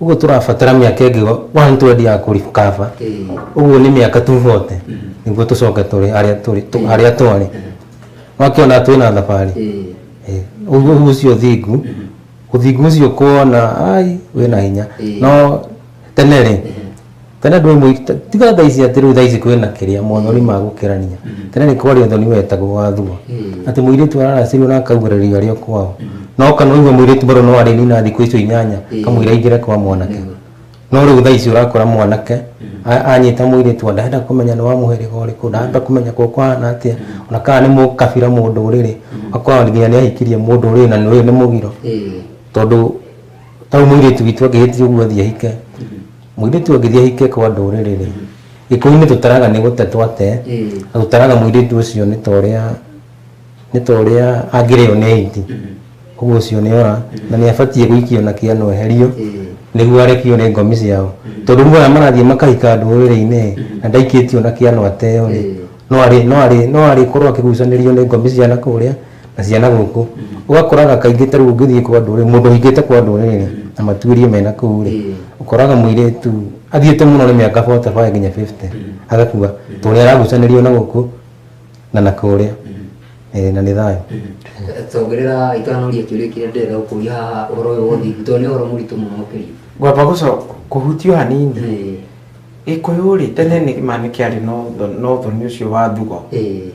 Speaker 2: Uguo turabatara miaka ingi 120 ya kurikava. Uguo ni miaka tu 40 niguo tucoke turi haria turi tu- haria twari. Wakiona twina thabari. Eh, Uguo ucio thingu. Uthingu ucio kuona ai wina hinya. No tene ri Tene andũ aimwe tiga thaa ici atĩ rĩu thaa ici kwĩna kĩrĩa mothoni ma gũkĩrania. Tene nĩ kwarĩ ũthoni wetagwo wa thua. Atĩ mũirĩtu araracĩrio na akaugĩrĩrio arĩ o kwao. No kana ũigue mũirĩtu bado no arĩnina thikũ icio inyanya kamũira aingĩre kwa mwanake. No rĩu thaa ici ũrakora mwanake anyita mũirĩtu wa ndarenda kũmenya nĩ wa mũhĩrĩga ũrĩkũ, ndarenda kũmenya kwao kũhana atĩa, ona kana nĩ mũkabira mũndũrĩrĩ. Ũgakora nginya nĩ ahikirie mũndũrĩrĩ na ũyũ nĩ mũgiro. Tondũ... tau mũirĩtu witũ angĩhĩtia ũguo athiĩ ahike mũirĩtu angĩthiĩ ahike kwa ndũrĩrĩ rĩ gĩkũyũ-inĩ tũtaraga nĩ gũte twate na tũtaraga mũirĩtu ũcio nĩ ta ũrĩa nĩ ta ũrĩa angĩrĩo nĩ aiti ũguo ũcio nĩ ora na nĩ abatiĩ gũikio na kĩano eherio nĩguo arekio nĩ ngomi ciao tondũ rĩu aya marathiĩ makahika ndũrĩrĩ-inĩ rĩ, na ndaikĩtio na kĩano ateo rĩ no arĩ no arĩ no arĩkorwo akĩgucanĩrio nĩ ngomi cia nakũrĩa na ciana gũkũ ũgakoraga kaingĩ ta rĩu ũngĩthiĩ kwa andũ rĩ mũndũ ahingĩte kwa andũ rĩ na matuĩrie mena kũu rĩ ũkoraga mũirĩtu athiĩte mũno nĩ mĩaka 45 nginya 50 agakua tondũ nĩ aragucanĩrio na gũkũ na na kũrĩa Eh, na nĩ thayũ tongerera
Speaker 1: itanoria kĩũria kĩrĩa ndĩrenda gũkũria haha ũhoro ũyũ wa ũthingu tondũ nĩ ũhoro mũritũ mũno makĩria ngwamba gũcoka
Speaker 3: kũhutio hanini Eh, gĩkũyũ rĩ tene nĩ ma nĩ kĩarĩ na ũtho- na ũthoni ũcio wa thugo eh,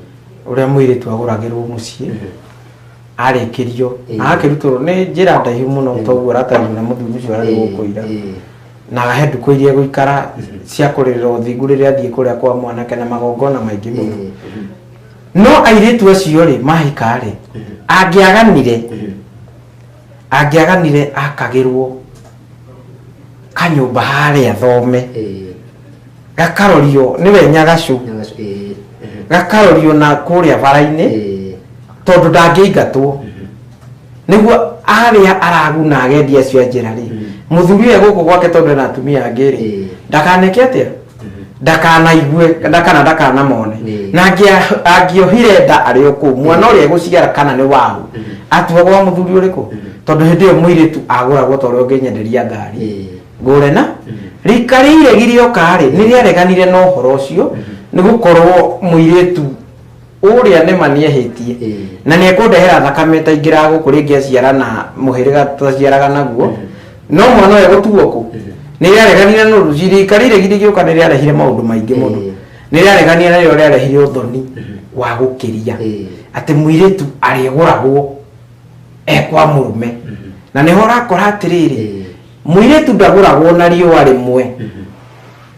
Speaker 3: ũrĩa mũirĩtu agũragĩrwo mũciĩ arĩkĩrio Eh. na akĩrutwo nĩ njĩra ndaihu mũno toguo aratarĩrio na mũthuri ũcio ararĩ gũkũira na he ndukũ iria gũikara cia kũrĩrĩra ũthingu rĩrĩa athiĩ kũrĩa kwa mwanake na magongona maingĩ mũno no airĩtu acio rĩ mahika rĩ angĩaganire angĩaganire akagĩrwo kanyũmba harĩa thome eh, gakarorio nĩwe nyagacu nyagacu, eh, mhm, gakarorio na kũrĩa bara-inĩ eh, tondũ ndangĩingatwo nĩguo arĩa araguna agendi acio a njĩra rĩ mũthuri ũyũ gũkũ gwake tondũ ena atumia angĩ rĩ Eh. ndakaneke atĩa ndakanaigue nda- kana ndakanamone Nĩ. na angĩa- angĩohire nda arĩ o kũu mwana ũrĩa egũciara kana nĩ wahu atuagwo wa mũthuri ũrĩkũ tondũ hĩndĩ ĩyo mũirĩtu agũragwo ta ũrĩa ũngĩnyenderia ngari Ĩĩ. ngũre na rika rĩiregire okarĩ nĩ rĩareganire na ũhoro ũcio nĩ gũkorwo mũirĩtu ũrĩa nĩma nĩehĩtie Ĩĩ. na nĩekũndehera thakame ĩtaingĩraga gũkũ rĩngĩ aciara na mũhĩrĩga tũtaciaraga naguo no mwana ũyũ gũtuo kũ nĩrĩareganire na ũruci rika rĩrĩ githĩ gĩũka nĩrĩarehire maũndũ maingĩ mũno Ĩĩ. nĩrĩareganire na rĩo rĩarehire ũthoni wa gũkĩria Ĩĩ. atĩ mũirĩtu arĩgũragwo ekwa mũrũme na nĩho ũrakora atĩrĩrĩ Ĩĩ. mũirĩtu ndagũragwo na riũa rĩmwe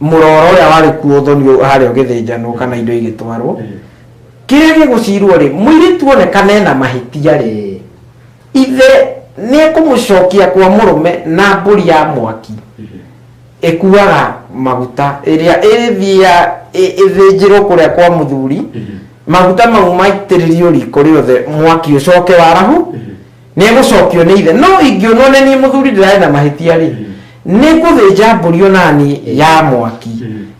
Speaker 3: mũroro ũrĩa warĩ kuo ũthonio harĩa ũgĩthĩnjanwo kana indo igĩtwarwo kĩrĩa gĩgũcirwo rĩ mũirĩtu onekana ena mahĩtia rĩ ithe nĩ ekũmũcokia kwa mũrũme na mbũri ya mwaki ĩkuaga maguta ĩrĩa ĩrĩthiia ĩthĩnjĩrwo kũrĩa kwa mũthuri maguta mau maitĩrĩrio riko rĩothe mwaki ũcoke warahu nĩ egũcokio nĩ ithe no ingĩonwo nĩ niĩ mũthuri ndĩrarĩ na mahĩtia-rĩ nĩ ngũthĩnja mbũri onani ya mwaki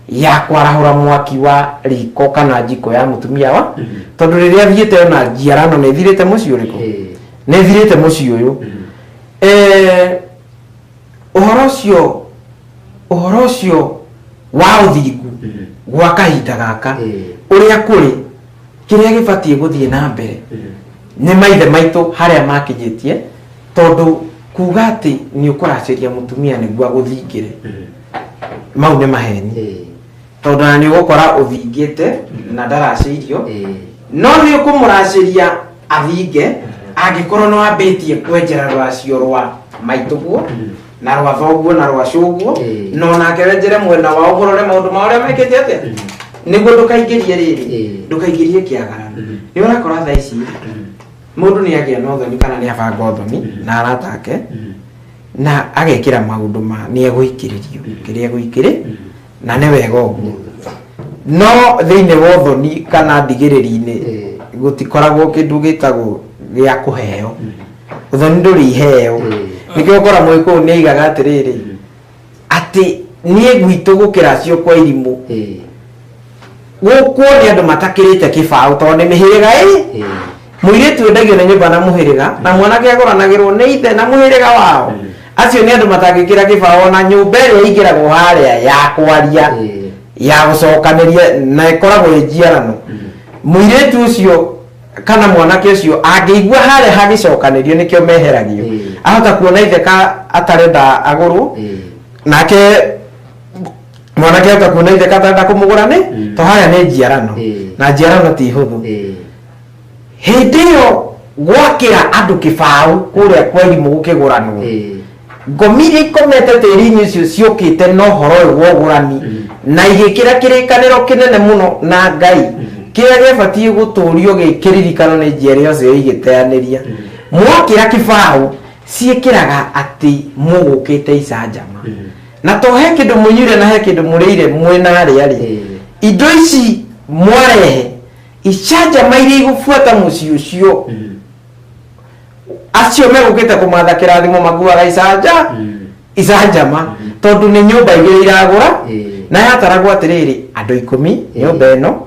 Speaker 3: ya kwarahũra mwaki wa riko kana njiko ya mũtumia wa tondũ rĩrĩa thiĩte ona njiara no nĩ thirĩte mũciĩ ũrĩkũ nĩ thirĩte mũciĩ ũyũ Eh, ũhoro ũcio ũhoro ũcio wa ũthingu gwa kahinda gaka ũrĩa kũrĩ kĩrĩa gĩbatiĩ gũthiĩ na mbere nĩ maithe maitũ harĩa makinyĩtie tondũ kuga atĩ nĩ ũkũracĩria mũtumia nĩguo agũthingĩre mau nĩ maheni Eh, tondũ na nĩ ũgũkora ũthingĩte na ndaracĩirio eh, no nĩ ũkũmũracĩria athinge angĩkorwo nĩ wambĩtie kwenjera rũracio rwa maitũguo na rwa thoguo na rwa cũguo Ĩĩ. no nake wenjere mwena wao ũrore maũndũ ma ũrĩa mekĩte atĩa nĩguo ndũkaingĩrie rĩrĩ Ĩĩ. ndũkaingĩrie kĩagara Mhm. nĩ ũrakora tha ici mũndũ nĩ agĩa na ũthoni kana nĩ abanga ũthoni na arata ake na agekĩra maũndũ ma nĩ egũikĩrĩrio kĩrĩa egũikĩrĩ na nĩ wega ũguo no thĩinĩ wa ũthoni kana ndigĩrĩri-inĩ Eh. gũtikoragwo kĩndũ gĩtagwo gĩa kũheo ũthoni ndũrĩ iheo Eh. nĩkĩo ngora mũgĩkũyũ nĩ aigaga atĩrĩrĩ atĩ niĩ gwitũ gũkĩra cio kwa irimũ Eh. Gũkũ nĩ andũ matakĩrĩte kĩbaũ tondũ nĩ mĩhĩrĩga ĩrĩ. Mũirĩtu endagio nĩ nyũmba na mũhĩrĩga na mwanake agũranagĩrwo nĩ ithe na mũhĩrĩga wao. Acio nĩ andũ matangĩkĩra kĩbaũ ona nyũmba ĩrĩa ĩingĩragwo harĩa ya kwaria ya gũcokanĩria na ĩkoragwo ĩ njiarano. Mũirĩtu ũcio kana mwanake ũcio angĩigua harĩa hagĩcokanĩrio nĩkĩo meheragio. Ahota kuona ithe ka atarenda agũrwo nake... mwanake ota kuona ithe katarenda kumugura ni Mm. to haya ni njiarano Eh. na njiarano ti huthu Eh, hindi iyo gwakira andu kibau kuria kwa irimu gukiguranwo eh, ngomi iria ikomete tĩri-inĩ ũcio ciũkĩte na ũhoro ũyũ wa ũgũrani Mhm. na igĩkĩra kĩrĩkanĩro kĩnene mũno na ngai kĩrĩa gĩbatiĩ gũtũũrio gĩkĩririkano nĩ njiarĩ yose igĩteanĩria mwakĩra kĩbaũ ciĩkĩraga atĩ mũgũkĩte icanjama Mhm. na to he kindu munyuire na he kindu murire mwenaria ri Eh. indo ici mwarehe icanjama iria igubuata mucii ucio Mm. acio megukite kumatha kirathimo makuaga icanja Mm. icanjama tondu ni nyumba igiri iragura Eh. na yataragwo atiriri andu ikumi nyumba ino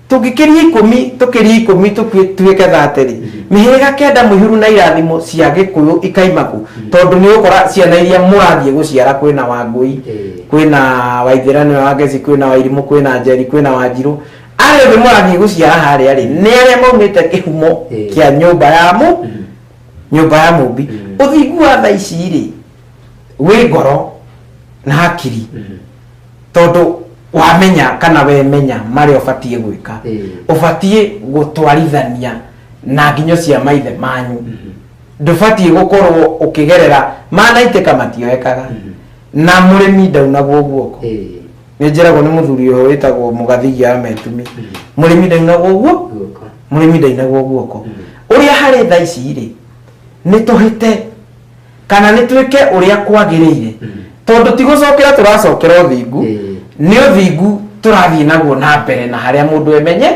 Speaker 3: Tũngĩkĩria ikũmi, tũkĩrie ikũmi tũkue tuĩke thatĩrĩ. Mĩhĩrĩga kenda mũihũru na irathimo cia Gĩkũyũ ikaima kũ? Tondũ nĩ ũgũkora ciana iria mũrathiĩ gũciara kwĩna Wangũi, kwĩna Waithĩra nĩwe wa Ngeci, kwĩna Wairimũ, kwĩna Njeri, kwĩna Wanjirũ. Arĩa othe mũrathiĩ gũciara harĩa rĩ, nĩ arĩa maumĩte kĩhumo kĩa nyũmba ya mũ, nyũmba ya Mũmbi. Ũthingu wa thaa ici rĩ, wĩ ngoro na hakiri. tondũ wamenya kana wemenya marĩa ũbatiĩ gwĩka Eh. ũbatiĩ gũtwarithania na nginyo cia maithe manyu ndũbatiĩ gũkorwo ũkĩgerera manaitĩka matioekaga na mũrĩmi ndaunagwo guoko Eh. nĩ njĩragwo nĩ mũthuri ũyũ wĩtagwo mũgathigia metumi mũrĩmi ndainagwo guo Guoko. mũrĩmi ndainagwo guoko ũrĩa harĩ tha ici rĩ nĩ tũhĩte kana nĩ twĩke ũrĩa kwagĩrĩire tondũ ti gũcokera tũracokera ũthingu nĩ ũthingu tũrathiĩ naguo na mbere na harĩa mũndũ emenye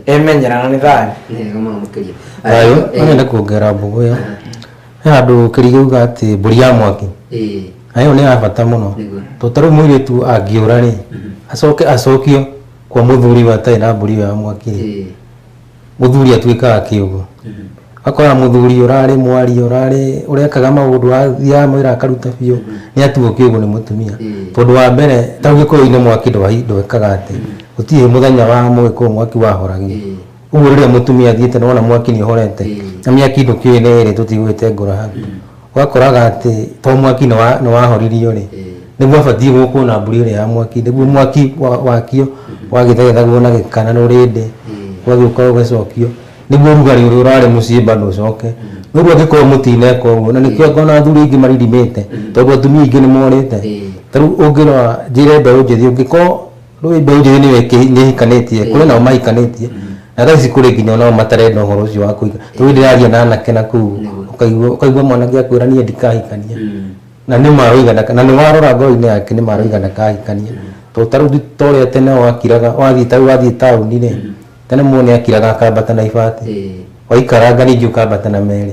Speaker 3: emenyera na nĩ thayũ thayũ
Speaker 2: nĩenda kuongerera mbũgũ ĩyo he handũ kĩrigĩ uga atĩ mbũri ya mwaki na ĩyo nĩ ya bata mũno tondũ ta rĩu mũirĩtu angĩũra rĩ acoke acokio kwa mũthuri ũyũ atarĩ na mbũri ĩyo ya mwaki rĩ mũthuri atuĩkaga kĩũgũ akora mũthuri ũrarĩ mwari ũrarĩ ũrekaga maũndũ athiaga mwĩra akaruta biũ nĩ atuo kĩũgũ nĩ mũtumia tondũ wa mbere ta gĩkũyũ-inĩ mwaki ndwahi- ndwekaga atĩ gũtirĩ mũthenya wa mũgĩkũyũ mwaki wahoragio ũguo rĩrĩa mũtumia athiĩte nĩ wona mwaki nĩ ũhorete na mĩaki ndũkĩũĩ nĩ ĩrĩ tũtigũgĩte ngũrahanu wakoraga atĩ to mwaki nĩwa- nĩwahoririo rĩ nĩ gwabatiĩ gũkwo na mbũri ĩrĩa ya mwaki nĩguo mwaki wa- wakio wagĩthegethagwo na gĩkana na ũrĩndĩ gwagĩũka ũgacokio nĩguo ũrugarĩ ũrĩa ũrarĩ mũciĩ bado ũcoke no rĩu angĩkorwo mũtineka ũguo na nĩkĩo ngona athuri aingĩ maririmĩte tondũ atumia aingĩ nĩ morĩte ta rĩu ũngĩrora njĩre mbeũ njĩthĩ ũngĩkorwo rũĩ ndoirĩ nĩwe nĩhikanĩtie kũrĩ nao mahikanĩtie na thaa ici kũrĩ nginya nao matarenda ũhoro ũcio wa kũhika rĩu ndĩraria na anake na kũu ũkaigua ũkaigua mwanake akwĩra niĩ ndikahikania na nĩ maroiga ndaka- na nĩ warora ngoro-inĩ yake nĩ maroiga ndakahikania to ta rĩu ti- ta ũrĩa tene wakiraga wathiĩ ta rĩu wathiĩ taũni rĩ tene mũndũ nĩ akiraga akambata na ibati waikaranga ningĩ ũkambata na merĩ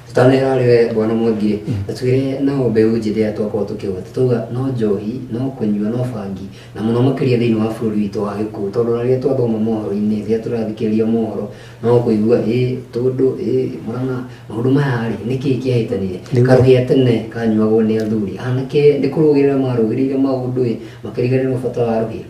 Speaker 2: tũtanera
Speaker 1: arĩ we bwana mwangire na twĩre nao mbeũ njĩthĩ ya twakorwo tũkĩgweta twauga no njohi no kũnyua no bangi na mũno makĩria thĩinĩ wa bũrũri witũ wa gĩkũyũ tondũ na rĩrĩa twathoma mohoro-inĩ rĩrĩa tũrathikĩrĩria mohoro no kũigua ĩ tũndũ ĩ mũrana maũndũ maya rĩ nĩkĩ kĩahĩtanire Nĩguo. karũgĩa tene kanyuagwo nĩ athuri anake nĩ kũrũgĩrĩra marũgĩrĩire maũndũ ĩ makĩriganĩrwo bata wa rũgĩo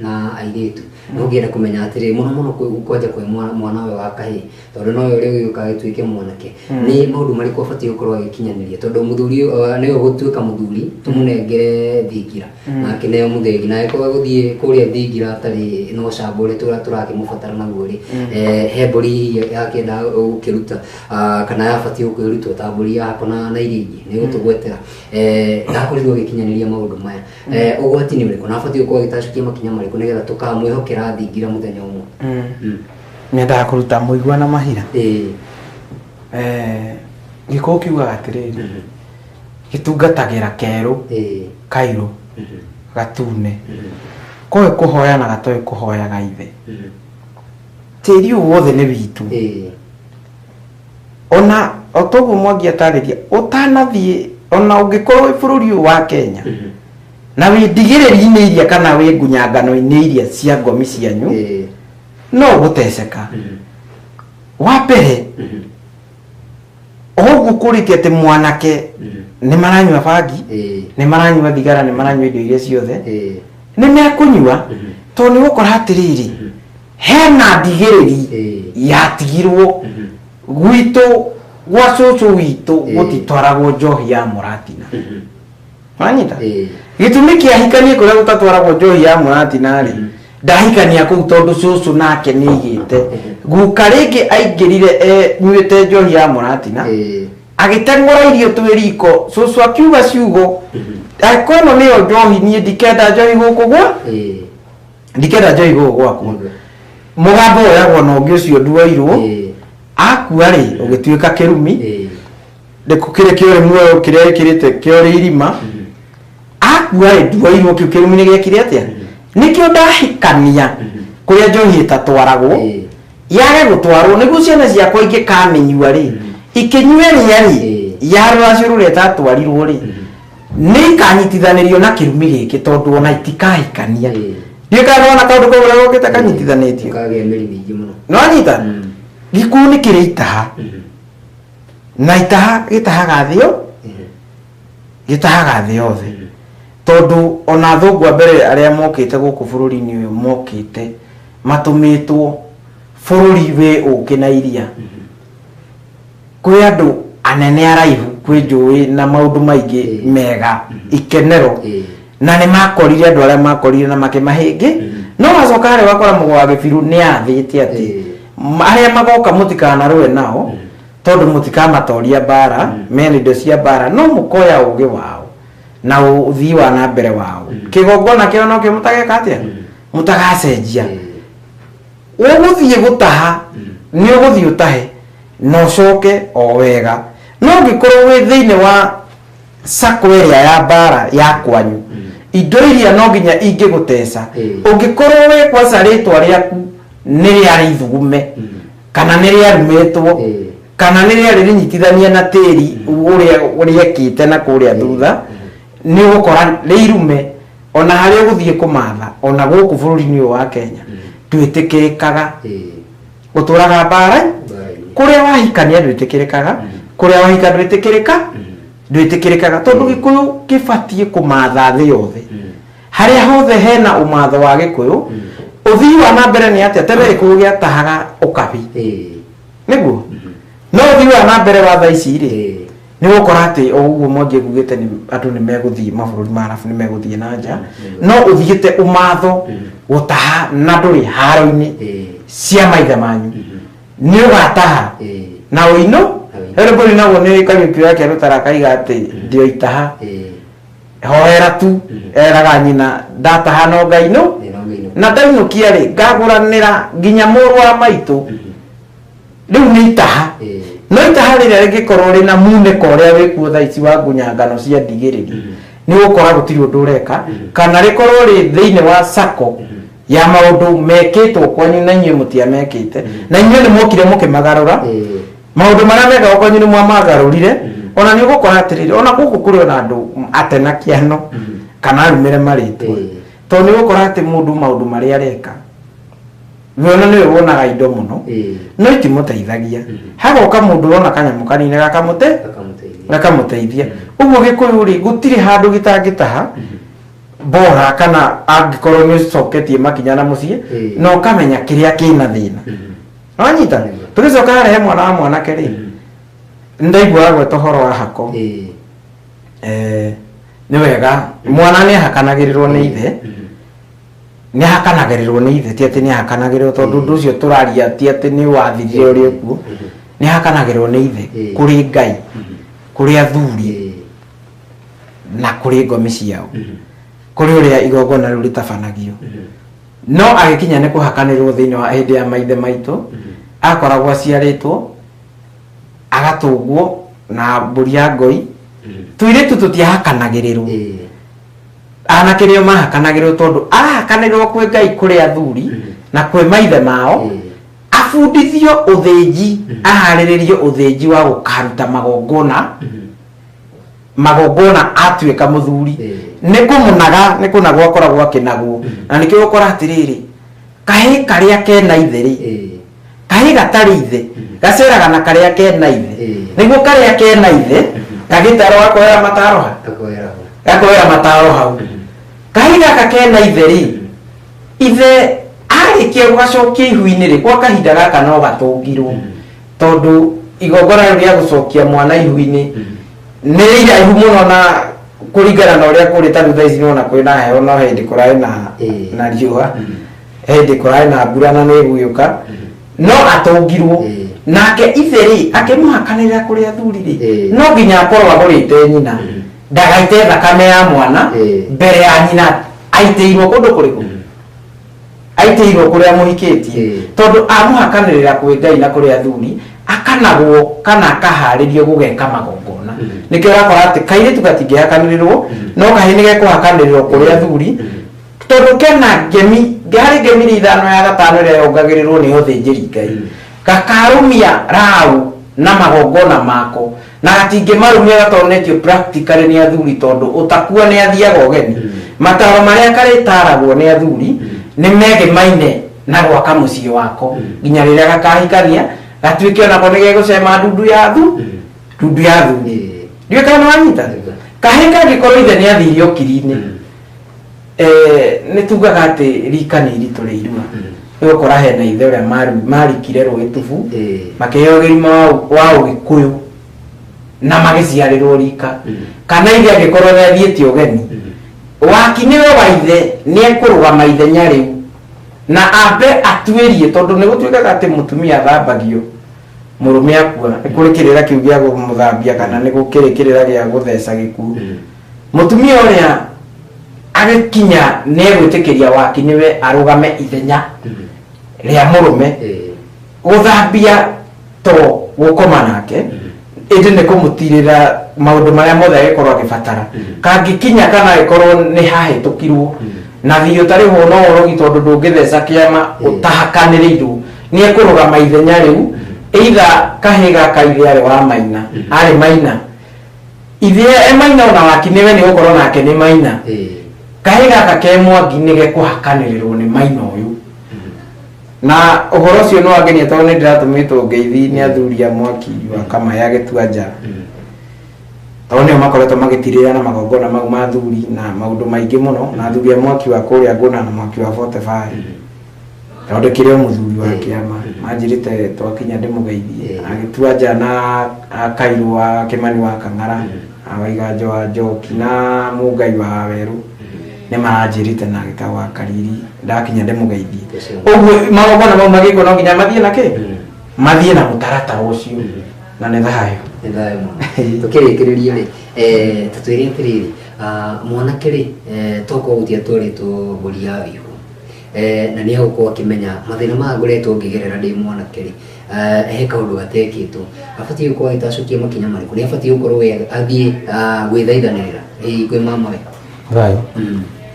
Speaker 1: na airĩtu na ũngĩenda kũmenya atĩrĩ mũno mũno kwĩ- gũkwanja kwĩ mwa- mwana ũyũ wa kahĩĩ tondũ nowe ũrĩa ũgĩũka agĩtuĩke mwanake nĩ maũndũ marĩkũ abatiĩ gũkorwo agĩkinyanĩria tondũ mũthuri ũyũ, eh, nĩwe gũtuĩka mũthuri tũmũnengere thingira na akĩneo mũthĩgi na agĩkorwo gũthiĩ kũrĩa thingira atarĩ na ũcamba ũrĩa tũra- tũrakĩmũbatara naguo rĩ eh, he mbũri hihi yakĩenda gũkĩruta ah, kana yabatiĩ gũkĩrutwo ta mbũri yakona na iria ingĩ nĩ gũtũgwetera Eh, ndakorirwo agĩkinyanĩria maũndũ maya Eh, ũgwati nĩ ũrĩkũ na abatiĩ gũkorwo agĩtacũkia makinya marĩkũ nĩgetha tũkamwĩhokera thingira mũthenya ũmwe Mm. Mm. nyendaga
Speaker 3: kũruta mũigua na mahira Ĩĩ. Eh, gĩkũũ kiugaga atĩrĩrĩ Mhm. gĩtungatagĩra kerũ Ĩĩ. kairũ Mhm. gatune Mhm. koĩ kũhoya na gatoĩ kũhoyaga ithe Mhm. tĩri ũyũ wothe nĩ witũ Ĩĩ. ona o ta ũguo mwangi atarĩria ũtanathiĩ ona ũngĩkorwo wĩ bũrũri ũyũ wa kenya na wĩ ndigĩrĩri-inĩ iria kana wĩ ngunyangano-inĩ iria cia ngomi cianyu Ĩĩ. no ũgũteceka wa mbere oũguo kũrĩtie atĩ mwanake nĩ maranyua bangi Ĩĩ. nĩ maranyua thigara nĩ maranyua indo iria ciothe Ĩĩ. nĩ mekũnyua tondũ nĩ ũgũkora atĩrĩrĩ hena ndigĩrĩri Eh. yatigirwo Mhm. gwitũ gwa cũcũ witũ Eh. gũtitwaragwo njohi ya mũratina Mhm. wanyita Eh. gĩtũmi kĩahikanie kũrĩa gũtatwaragwo njohi ya mũratina rĩ Mhm. ndahikania kũu tondũ cũcũ nake nĩ igĩte Mhm. guka rĩngĩ aingĩrire e- nyuĩte njohi ya mũratina Eh. agĩteng'ũra irio twĩ riko cũcũ akiuga ciugo Mhm. "Ah, kwĩno nĩyo njohi niĩ ndikenda njohi gũkũ gwa Eh. ndikenda njoi gũkũ gwaku mũgambo woyagwo na ũngĩ ũcio nduoirwo Ĩĩ, akua rĩ ũgĩtuĩka kĩrumi ĩĩ, nĩkũ kĩrĩ kĩore muoyo kĩrĩa gĩkĩrĩte kĩore irima mm, akua rĩ nduoirwo kĩu kĩrumi nĩ gĩekire atĩa nĩkĩo ndahikania kũrĩa njohi ĩtatwaragwo ĩĩ, yage gũtwarwo nĩguo ciana ciakwa ingĩkamĩnyua rĩ ikĩnyue rĩa rĩ Ĩĩ. yarũracio rũrĩa ĩtatwarirwo rĩ nĩ ikanyitithanĩrio na kĩrumi gĩkĩ tondũ ona itikahikania ndiũĩ kana nĩwona kaũndũ kau ũrĩa gokĩte kanyitithanĩtio kagĩa mĩri mĩingĩ
Speaker 1: mũno nĩwanyita Mm.
Speaker 3: gĩkuũ nĩ kĩrĩ itaha Mhm. na itaha gĩtahaga thĩ yo Mhm. gĩtahaga thĩ yothe Mhm. tondũ ona athũngũ a mbere arĩa mokĩte gũkũ bũrũri-inĩ ũyũ mokĩte matũmĩtwo bũrũri wĩ ũkĩ na iria kwĩ andũ anene araihu kwĩ njũĩ na maũndũ maingĩ Ĩĩ. mega Ĩĩ. ikenero Ĩĩ. na nĩ makorire andũ arĩa makorire na makĩmahĩngĩ no wacoka harĩa wakora mũgo wa gĩbirũ nĩ athĩte atĩ Ĩĩ. "M- arĩa magoka mũtikanarũe nao tondũ mũtikamatoria mbara mena indo cia mbara no mũkoya ũgĩ wao na ũthii wa na mbere wao kĩgongona kĩao no kĩo mũtageka atĩa mũtagacenjia Ĩĩ. ũgũthiĩ gũtaha nĩ ũgũthiĩ ũtahe na ũcoke o wega no ũngĩkorwo wĩ thĩinĩ wa sako ĩrĩa ya mbara ya kwanyu indo iria no nginya ingĩgũteca Eh. ũngĩkorwo wĩ kwaca rĩtwa rĩaku nĩ rĩarĩ ithugume kana nĩ rĩarumĩtwo Eh. kana nĩ rĩarĩ rĩnyitithania na tĩri ũrĩa rĩekĩte na kũrĩa thutha nĩ ũgũkora nĩ irume ona harĩa ũgũthiĩ kũmatha ona gũkũ bũrũri-inĩ ũyũ wa kenya ndwĩtĩkĩrĩkaga gũtũraga mbara kũrĩa wahikania ndwĩtĩkĩrĩkaga kũrĩa wahika ndwĩtĩkĩrĩka ndwĩtĩkĩrĩkaga tondũ gĩkũyũ gĩbatiĩ kũmatha thĩ yothe harĩa hothe hena ũmatho wa gĩkũyũ ũthii wa na mbere nĩ atĩa tene gĩkũyũ gĩatahaga ũkabi nĩguo no ũthii wa na mbere wa tha ici rĩ Eh, nĩ gũkora atĩ o ũguo mwangi ngugĩte nĩ andũ nĩ megũthiĩ mabũrũri ma arabu nĩ megũthiĩ na nja no ũthiĩte ũmatho gũtaha na ndũrĩ haro-inĩ eh, cia maithe manyu nĩ ũgataha eh, na ũinũ Ũinũ. rĩu mbũri naguo nĩ kariũki yake rũtara kaiga atĩ ndioitaha eh. hoera tu Mhm. eraga nyina ndataha no ngai no Thĩna ũmĩinũka. na ndainũkia rĩ ngagũranĩra nginya mũrũ wa maitũ Mhm. rĩu nĩ itaha Ĩĩ. no itaha rĩrĩa rĩngĩkorwo rĩ na munĩko ũrĩa wĩkuo thaa ici wa ngunya ngano cia ndigĩrĩri Mhm. nĩ gũkora gũtirĩ ũndũ ũreka Mhm. kana rĩkorwo rĩ thĩinĩ wa sako Mhm. ya maũndũ mekĩtwo kwanyu na inyuĩ mũtiamekĩte Mhm. na inyuĩ nĩ mokire mũkĩmagarũra Ĩĩ. maũndũ marĩa mekaga kwanyu nĩ mwamagarũrire ona nĩ ũgũkora atĩrĩrĩ ona gũkũ kũrĩ ona andũ ate na kĩano kana arumĩre marĩtwa Eh. tondũ nĩ ũgũkora atĩ mũndũ maũndũ marĩa areka we ona nĩwe wonaga indo mũno Eh. no itimũteithagia hagoka mũndũ wona kanyamũ kanini gakamũte Akamũteithia. gakamũteithia ũguo gĩkũyũ rĩ gũtirĩ handũ gĩtangĩtaha bora kana angĩkorwo nĩ ũcoketie makinya na mũciĩ Eh. na ũkamenya kĩrĩa kĩna thĩna Mhm. wanyita tũgĩcoka harĩa he mwana wa mwanake rĩ ndaiguaga gweta ũhoro wa hako Eh, Eh, nĩ wega mwana nĩ ahakanagĩrĩrwo nĩ ithe nĩ ahakanagĩrĩrwo nĩ ithe ti atĩ nĩ ahakanagĩrĩrwo tondũ ũndũ ũcio tũraria ti atĩ nĩ wathirire ũrĩ ũkuo nĩ ahakanagĩrĩrwo nĩ ithe Eh. kũrĩ ngai kũrĩ athuri eh, na kũrĩ ngomi ciao kũrĩ ũrĩa igongona rĩu rĩtabanagio no agĩkinya nĩ kũhakanĩrwo thĩinĩ wa hĩndĩ ya maithe maitũ akoragwo aciarĩtwo agatũngwo na mbũri ya ngoi tũirĩtu tũtiahakanagĩrĩrwo Eh, anake nĩo mahakanagĩrwo tondũ arahakanĩrwo kwĩ ngai kũrĩ athuri na kwĩ maithe mao Mm. abundithio ũthĩnji aharĩrĩrio ũthĩnji wa gũkaruta magongona magongona atuĩka mũthuri Eh. nĩ kũmũnaga nĩ kũnagwo akoragwo akĩnagwo na nĩkĩo ũkora atĩrĩrĩ kahĩ karĩa kena ithe rĩ Eh. kahĩ gatarĩ ithe gaceraga na karĩa kena ithe Eh. nĩguo karĩa kena ithe gagĩtarwo gakoera mataro ha Akoera ho. gakoera mataro hau kahĩ gaka kena ithe rĩ ithe arĩkia gũgacokia ihu-inĩ rĩ gwa kahinda gaka no gatũngirwo tondũ igongona rĩu rĩa gũcokia mwana ihu-inĩ nĩ iraihu mũno na kũringana na ũrĩa kũrĩ ta rĩu thaa ici nĩwona kwĩ na heho no hĩndĩ kũrarĩ na Ĩĩ. na riũa he hĩndĩ kũrarĩ na mbura na nĩ ĩgũgĩũka no atũngirwo Ĩĩ. nake ithe rĩ akĩmũhakanĩrĩra kũrĩ athuri rĩ Ĩĩ. no nginya akorwo agũrĩte nyina ndagaite thakame ya mwana Ĩĩ. mbere ya nyina aitĩirwo kũndũ kũrĩkũ aitĩirwo kũrĩa mũhikĩtie Eh. tondũ amũhakanĩrĩra kwĩ ngai na kũrĩ athuri akanagwo kana akaharĩrio gũgeka magongona Mhm. nĩkĩo ũrakora atĩ kairĩtu gatingĩhakanĩrĩrwo Mhm. no kahĩ nĩ gekũhakanĩrĩrwo kũrĩ athuri Mhm. tondũ kena ngemi harĩ ngemi iria ithano ya gatano ĩrĩa yongagĩrĩrwo nĩ ũthĩnjĩri ngai Mhm. gakarũmia raũ na magongona mako Na hatingĩmarũmĩrĩra tondũ nĩkĩo practically nĩ athuri tondũ ũtakua nĩ athiaga ũgeni. Mataro marĩa karĩtaragwo nĩ athuri nĩ megĩmaine na gwaka mũciĩ wako nginya rĩrĩa gakahikania gatuĩke onako nĩ gegũcema ndundu ya thu ndundu ya thuri. Ndiũĩ kana nĩ wanyita? Kahĩĩ kangĩkorwo ithe nĩ athire ũkiri-inĩ Eh, nĩ tugaga atĩ rika nĩ iritũ rĩ irua nĩ gũkora hena ithe ũrĩa maru- marikire rũĩ tubu Eh. makĩheo gĩrima wa ũ- wa ũgĩkũyũ na magĩciarĩrwo rika Mm. kana ithe angĩkorwo nĩ athiĩte ũgeni waki nĩwe wa ithe nĩ ekũrũgama ithenya rĩu na ambe atuĩrie tondũ nĩ gũtuĩkaga atĩ mũtumia athambagio mũrũme akua nĩ kũrĩ kĩrĩra kĩu gĩa kũmũthambia kana nĩ gũkĩrĩ kĩrĩra gĩa gũtheca gĩkuũ Mm. Mũtumia ũrĩa agĩkinya nĩegwĩtĩkĩria waki nĩwe arũgame ithenya rĩa mũrũme gũthambia to gũkoma nake ĩndĩ nĩ kũmũtirĩra maũndũ marĩa mothe agĩkorwo agĩbatara kangĩkinya kana agĩkorwo nĩ hahĩtũkirwo na biũ ta rĩu no ũrogi tondũ ndũngĩtheca kĩama ũtahakanĩrĩirwo nĩ ekũrũgama ithenya rĩu either kahĩĩ gaka ithe arĩ wa maina arĩ maina Ithĩa e maina ona waki nĩ we nĩ gũkorwo nake nĩ maina. Kahĩ gaka ke mwangi nĩ gekũhakanĩrĩrwo nĩ maina ũyũ. Na ũhoro ũcio nĩ wangenia tondũ nĩ ndĩratũmĩtwo ngeithi nĩ athuri a mwaki wa kama ya gĩtuanja. Tondũ nĩo makoretwo magĩtirĩrĩra na magongona mau ma athuri na maũndũ maingĩ mũno na athuri a mwaki wa kũrĩa ngũna na mwaki wa Forty Five. thondekire o mũthuri wa kĩama anjĩrĩte twakinya ndĩmũgeithie Eh. agĩtua nja na a- kairũ wa kĩmani wa kang'ara awaiganjo wa njoki na mũngai wa werũ nĩ maranjĩrĩte na agĩta wa kariri ndakinya ndĩmũgeithie Yes, sir. ũguo magongona mau magĩkwo no nginya mathiĩ na kĩ Mm. mathiĩ na mũtaratara ũcio Mm. na nĩ thayũ nĩ thayũ mũno tũkĩrĩkĩrĩria
Speaker 1: rĩ eh, tũtwĩre atĩrĩrĩ ah, mwanake rĩ eh, toka ũgũtia twarĩtwo mbũri ya wĩihu Eh, na nä egå korwo akä menya mathä na maya ngoretwo ngä gerera ndä mwanake rä he kaå ndå gatekä two abatiä gå korwo agä tacokia makinya marä kå nä abatiä gå korwo we athiä gwä thaithanä ra kwä mamawe thayo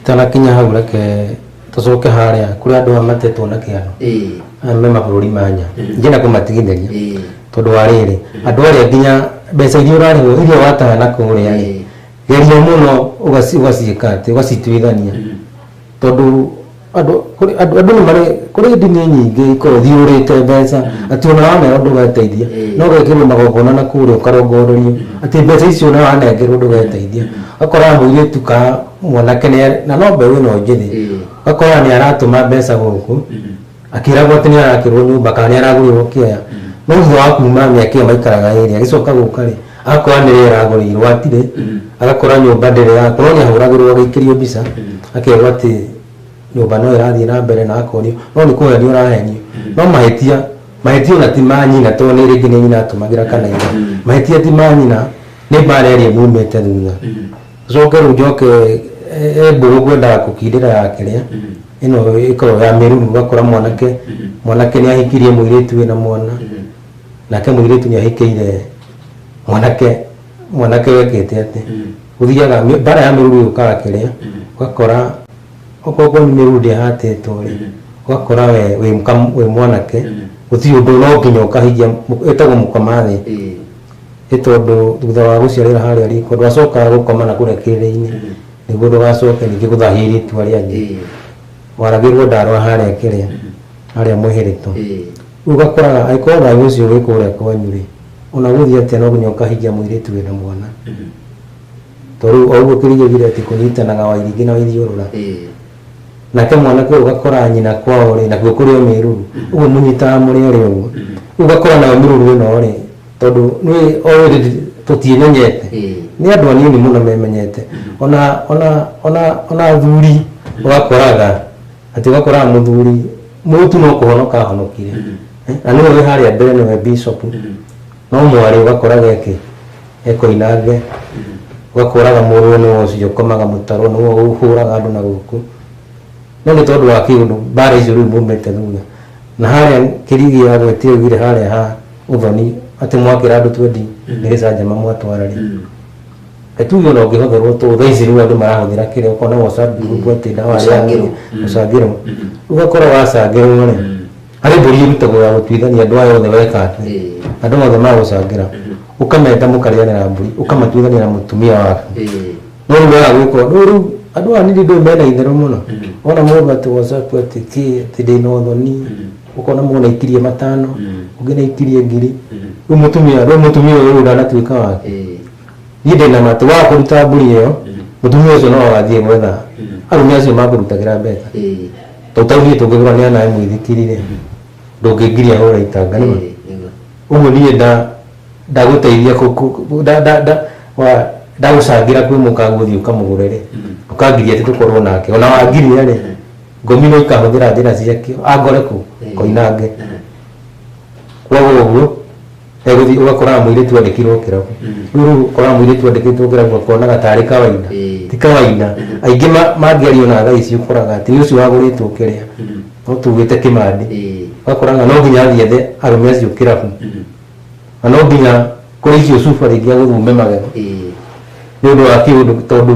Speaker 2: itanakinya hau reke tucoke haria kuri andu aya matetwo na kiano aya me mabũrũri ma nya njĩna kũmatigithĩria tondũ wa rĩrĩ andũ arĩa nginya mbeca iria ũrarĩhwo iria wataya na kũrĩa rĩ geria mũno ũgaciĩka atĩ ũgacituithania tondũ andũ kũrĩ andũ andũ nĩ marĩ kũrĩ ndini nyingĩ ikorwo thiũrĩte mbeca atĩ ona waneo ndũgeteithia Eh. no wekĩrwo magongona na kũrĩa ũkarongororio atĩ mbeca icio ona wanengerwo ndũgeteithia gakora mũirĩtu ka mwanake nĩ na no mbeũ ĩno njĩthĩ Eh. gakora nĩ aratũma mbeca gũkũ akĩragwo atĩ nĩ arakĩrwo nyũmba kana nĩ aragũrĩrwo kĩaya no thutha wa kuma mĩaka ĩyo maikaraga ĩrĩ agĩcoka gũka rĩ akora nĩ rĩrĩa aragũrĩirwo atirĩ agakora nyũmba ndĩrĩ yakwo no nĩ ahũragĩrwo agĩikĩrio mbica akerwo atĩ nyũmba no ĩrathiĩ na mbere na akonio no nĩ kũhenio ũrahenio no mahĩtia mahĩtia ona ti ma nyina tondũ nĩ rĩngĩ nĩ nyina atũmagĩra kana ithe mahĩtia ti ma nyina nĩ mbara ĩrĩa mumĩte thutha Coke rĩu njoke e mbũgũ kwendaga kũkindĩra ya kĩrĩa ĩno ĩkoragwo ya mĩruru ũgakora mwanake mwanake nĩ ahikirie mũirĩtu wĩna mwana nake mũirĩtu nĩ ahikĩire mwanake mwanake wekĩte atĩ gũthiaga mĩ- mbara ya mĩruru yũkaga kĩrĩa ũgakora okorwo nĩ mĩruru ndĩhatĩtwo rĩ ũgakora we wĩ mũka- wĩ mwanake gũtirĩ ũndũ no nginya ũkahikia ĩtagwo mũkomathĩ Nĩ tondũ thutha wa gũciarĩra harĩa riko ndwacokaga gũkoma na kũrĩa kĩrĩrĩ-inĩ nĩguo ndũgacoke ningĩ gũthahia airĩtu arĩa angĩ Ĩĩ. waragĩrwo ndarwa harĩa kĩrĩa harĩa mũhĩrĩto Ĩĩ. rĩu ũgakoraga angĩkorwo thayũ ũcio wĩ kũrĩa kwanyu rĩ ona gũthiĩ atĩa no nginya ũkahingia mũirĩtu wĩna mwana to rĩu o ũguo kĩrĩa ũgire atĩ kũnyitanaga wairingĩ na waithiũrũra Ĩĩ. nake mwana kwe ũgakora nyina kwao rĩ nakuo kũrĩ o mĩruru ũguo mũnyitaga mũrĩ erĩ ũguo rĩu ũgakora nayo mĩruru ĩno rĩ tondũ nĩ already tũtiĩmenyete Eh. nĩ andũ anini mũno memenyete ona ona ona ona athuri ũgakoraga atĩ ũgakoraga mũthuri mũtu no kũhonoka ahonokire Eh, na nĩwe wĩ harĩa mbere nĩwe bishop No mwarĩ ũgakoraga eki ekoinange ũgakoraga mũrũwe nĩ wocio ũkomaga mũtaro nĩ wo ũhũraga andũ na gũkũ no nĩ tondũ wa kĩũndũ mbara icio rĩu mumĩte thutha na harĩa kĩrigi ya gwĩtia augire harĩa ha ũthoni atĩ mwakĩra andũ twendi nĩ gĩcanjama mwatwara rĩ Nĩ tuge ona ũngĩhũthĩrwo tũ thaa ici rĩu andũ marahũthĩra kĩrĩa ũkona wocabi ũguo atĩ ndawa ya Gũcangĩrwo. gũcangĩrwo ũgakora wacangĩrwo rĩ harĩ mbũri ĩrutagwo ya gũtuithania andũ aya othe weka atĩ Eh, andũ othe magũcangĩra ũkamenda mũkarĩanĩra mbũri ũkamatuithania na mũtumia waku eh, no rĩu waga gwĩka ũndũ ũyũ rĩu andũ aya nĩndĩ ndũĩ mena itherũ mũno Mhm. wona mũndũ atĩ wacaku atĩ kĩ atĩ ndĩna ũthoni ũkona mũndũ naikirie matano Mhm. ũngĩ naikirie ngiri mhm, rĩu mũtumia rĩu mũtumia ũyũ ndanatuĩka wake eh, niĩ ndĩna matũ wa kũruta mbũri ĩyo Mhm. mũtumia ũcio no agathiĩ gwetha Mhm. arũme acio makũrutagĩra mbeca eh. Totau niĩ tũngĩthura nĩ anae mũithikiri rĩ ndũngĩngiria hũre itanga nĩma? Ũguo niĩ nda ndagũteithia kũ kũ kũ nda nda nda wa ndagũcangĩra kwĩ mũkagu ũthiĩ ũkamũgũre rĩ ndũkangiria atĩ tũkorwo nake ona wangiria rĩ ngominwo ikahũthĩra njĩra ciakĩo angore kũ? Koinange. Kwoguo ũguo. Egũthiĩ ũgakoraga mũirĩtu andĩkirwo kĩrabu. Rĩu rĩu ũkoraga mũirĩtu andĩkĩtwo kĩrabu akonaga tarĩ kawaida. Ĩĩ. Ti kawaida. Aingĩ ma- mangĩaria ona thaa ici ũkoraga atĩ nĩ ũcio wagũrĩtwo kĩrĩa. No tuugĩte kĩmandi. Ĩĩ. Ũgakoraga no nginya athiĩ ethe arũme acio kĩrabu. Na no nginya kũrĩ icio cuba rĩngĩ agũthume magego Ĩĩ. nĩ ũndũ wa kĩũndũ tondũ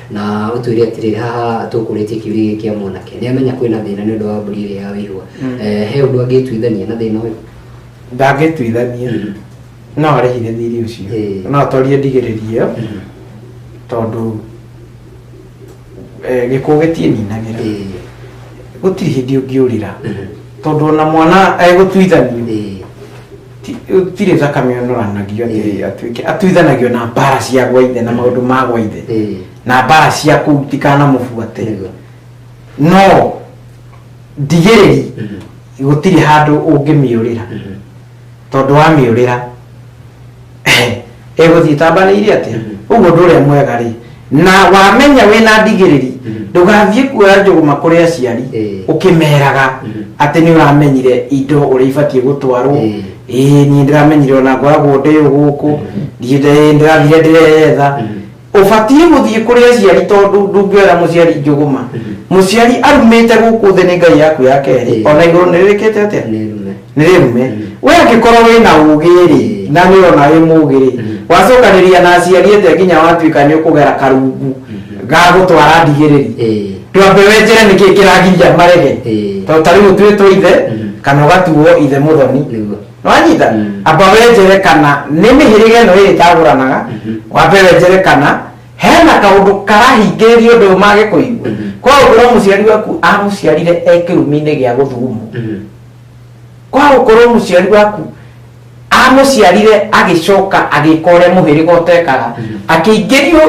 Speaker 1: na ũtwĩre atĩrĩrĩ haha tũkũrĩtie kĩũria gĩkĩ kĩa mwanake nĩ amenya kwĩna thĩna nĩ ũndũ wa mbũri ĩrĩa ya wĩihua Mm. Eh, he ũndũ angĩtuithania na thĩna ũyũ ndangĩtuithania
Speaker 3: Mhm. no arĩhire thiri Ĩĩ. ũcio no atorie ndigĩrĩria ĩyo Mhm. tondũ eh, gĩkuũ gĩtiĩninagĩra Ĩĩ, gũtirĩ hĩndĩ ũngĩũrĩra ĩĩ, tondũ ona mwana egũtuithanio ĩĩ. ti- gũtirĩ thakame ũnoranagio atĩ Eh. atuĩke atuithanagio na mbara cia gwa ithe na maũndũ ma gwa ithe Eh, na mbara cia kũu tikanamũbuate nĩguo. no ndigĩrĩri Mhm, gũtirĩ handũ ũngĩmĩũrĩra mhm. tondũ wamĩũrĩra ĩgũthiĩ ĩtambanĩire atĩa rĩu mũndũ ũrĩa mwega rĩ na wamenya wĩna ndigĩrĩri ndũgathiĩ kuoya njũgũma kũrĩ aciari Ĩĩ. ũkĩmeraga atĩ nĩ ũramenyire indo ũrĩa ibatiĩ gũtwarwo Ĩĩ. ĩĩ niĩ ndĩramenyire ona ngoragwo ndĩ ũgũkũ ndiĩ ndĩ- ndĩrathire ndĩreetha Ũbatiĩ gũthiĩ kũrĩ aciari tondũ ndũngĩoera mũciari njũgũma. Mũciari arumĩte gũkũ thĩ nĩ Ngai yaku ya kerĩ. O na igũrũ nĩ rĩkĩte atĩa? Nĩ rĩrume. Wee angĩkorwo wĩ na ũũgĩ-rĩ, na nĩ ũrona wĩ mũũgĩ-rĩ, wacokanĩrĩria na aciari ĩte nginya watuĩka nĩ ũkũgera karungu ga gũtwara ndigĩrĩri, ndwambe wenjere nĩkĩ kĩragiria marege. Tondũ ta rĩu ũtuĩtwo ithe, kana ũgatuo ithe mũthoni. nĩwanyita Mm. amba wenjere kana nĩ mĩhĩrĩga ĩno ĩrĩ ĩtagũranaga Mhm. wambe wenjere kana hena kaũndũ karahingĩrĩria ũndũ ũyũ mage kũigua Mhm. kwa gũkorwo mũciari waku amũciarire e kĩrumi-inĩ gĩa gũthugumwo Mhm. kwa gũkorwo mũciari waku amũciarire agĩcoka agĩka ũrĩa mũhĩrĩga ũtekaga Mhm. akĩingĩrio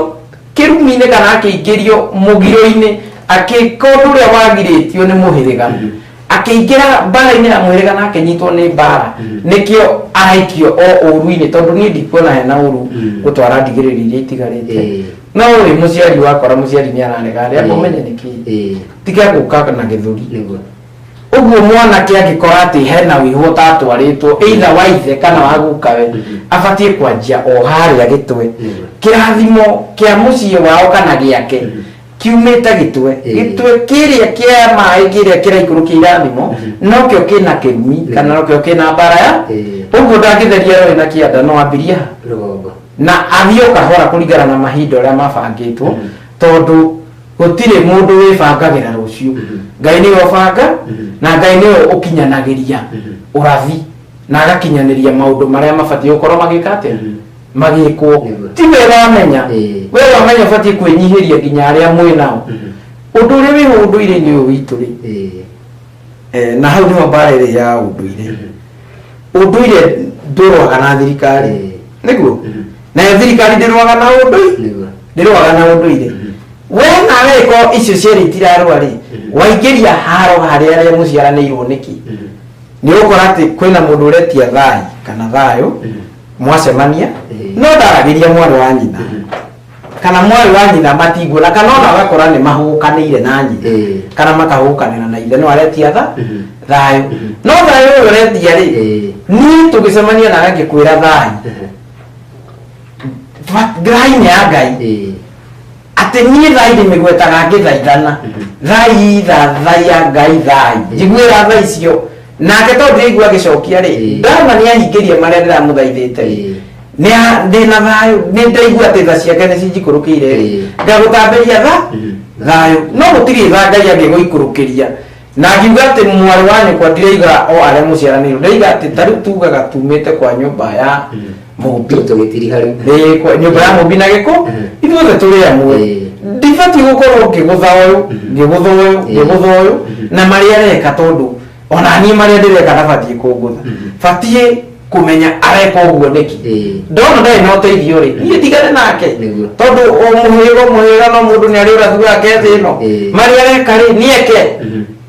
Speaker 3: kĩrumi-inĩ kana akĩingĩrio mũgiro-inĩ agĩka ũndũ ũrĩa wagirĩtio nĩ mũhĩrĩga Mhm. akĩingĩra mbaara-inĩ ya mwĩrĩga na akĩnyitwo nĩ mbaara Mm. nĩkĩo araikio o ũru-inĩ tondũ niĩ ndikuona hena ũru Mm. gũtwara ndigĩrĩri iria itigarĩte Eh. no rĩ mũciari wakora mũciari nĩ ararega rĩ amba ũmenye nĩkĩ Eh, tiga gũka na gĩthũri nĩguo ũguo mwanake angĩkora atĩ hena wĩhũ ũtatwarĩtwo either wa ithe kana wa gukawe Mhm. abatiĩ kwanjia o harĩa gĩtwe Mhm. kĩrathimo kĩa mũciĩ wao kana gĩake Mhm. kiumĩte gĩtwe Ĩĩ. gĩtwe kĩrĩa kĩa maĩ kĩrĩa kĩraikũrũkia irathimo nokĩo kĩna kĩgumi Ĩĩ. kana nokĩo kĩna mbara ya Ĩĩ. ũguo ndangĩtheria rũĩ na kĩanda no ambirie ha rũgongo na athiĩ o kahora kũringana na mahinda ũrĩa mabangĩtwo Mhm. tondũ gũtirĩ mũndũ wĩbangagĩra rũciũ Mhm. ngai nĩwe ũbanga Mhm. na ngai nĩwe ũkinyanagĩria Mhm. ũrathi na agakinyanĩria maũndũ marĩa mabatiĩ gũkorwo magĩka atĩa Mhm. magĩkwo Nĩguo. ti wega wamenya Ĩĩ. we wamenya ũbatiĩ kwĩnyihĩria nginya arĩa mwĩ nao ũndũ ũrĩa wĩ ũndũire-inĩ ũyũ witũ rĩ Ĩĩ. eh, na hau nĩho mbara ĩrĩ ya ũndũire ũndũire ndũrwaga na thirikari Ĩĩ. nĩguo Mhm. nayo thirikari ndĩrwaga na ũndũire Nĩguo. ndĩrwaga na ũndũire we nawe ko icio cierĩ itirarwa rĩ Mhm. waingĩria haro harĩa arĩa mũciaranĩirwo nĩkĩ nĩ ũkora atĩ kwĩna mũndũ ũretia thai kana thayũ mwacemania Eh. no ndaragiria mwarĩ wa nyina kana mwarĩ wa nyina matinguona kana ona agakora nĩ mahũkanĩire na nyina Eh. kana makahũkanĩra na ithe no aretia tha Mhm. thayũ Mhm. no thayũ ũyũ ũretia rĩ Eh. niĩ tũgĩcemania na agakĩkwĩra thayũ Ba- thayũ ya ngai Eh. atĩ niĩ thai ndĩmĩgwetaga ngĩthaithana Mhm. thai tha thai ya ngai thai njiguĩra tha icio nake tondũ ndĩraigua agĩcokia rĩ Ĩĩ. ndama nĩ ahingĩria marĩa ndĩramũthaithĩte rĩ Ĩĩ. nĩ a- ndĩ na thayũ nĩ ndaigua atĩ tha ciake nĩ cinjikũrũkĩire rĩ Ĩĩ. ngagũtambĩria tha Mm. thayũ no gũtirĩ tha ngai angĩgũikũrũkĩria na ngiuga atĩ mwarĩ wa nyũkwa ndiraiga o arĩa mũciaranĩirwo ndĩraiga atĩ tarĩu tugaga tumĩte kwa nyũmba ya Mm. mũmbi Tũ- tũgĩtiriha rĩu Ĩĩ, kwa- nyũmba ya mũmbi na gĩkũ Mhm. ithuothe tũrĩ amwe Ĩĩ. ndibatiĩ gũkorwo ngĩgũtha ũyũ ngĩgũtha ũyũ Ĩĩ. ngĩgũtha ũyũ na marĩa areka tondũ ona niĩ marĩa ndĩreka ndabatiĩ kũngũtha batiĩ kũmenya areka ũguo nĩkĩ Ĩĩ. ndona ndarĩ na ũteithio rĩ niĩ ndigane nake Nĩguo. tondũ o mũhĩrĩga o mũhĩrĩga no mũndũ nĩ arĩ ũrathi wake thĩ ĩno Ĩĩ. marĩa areka rĩ nĩ eke Mhm.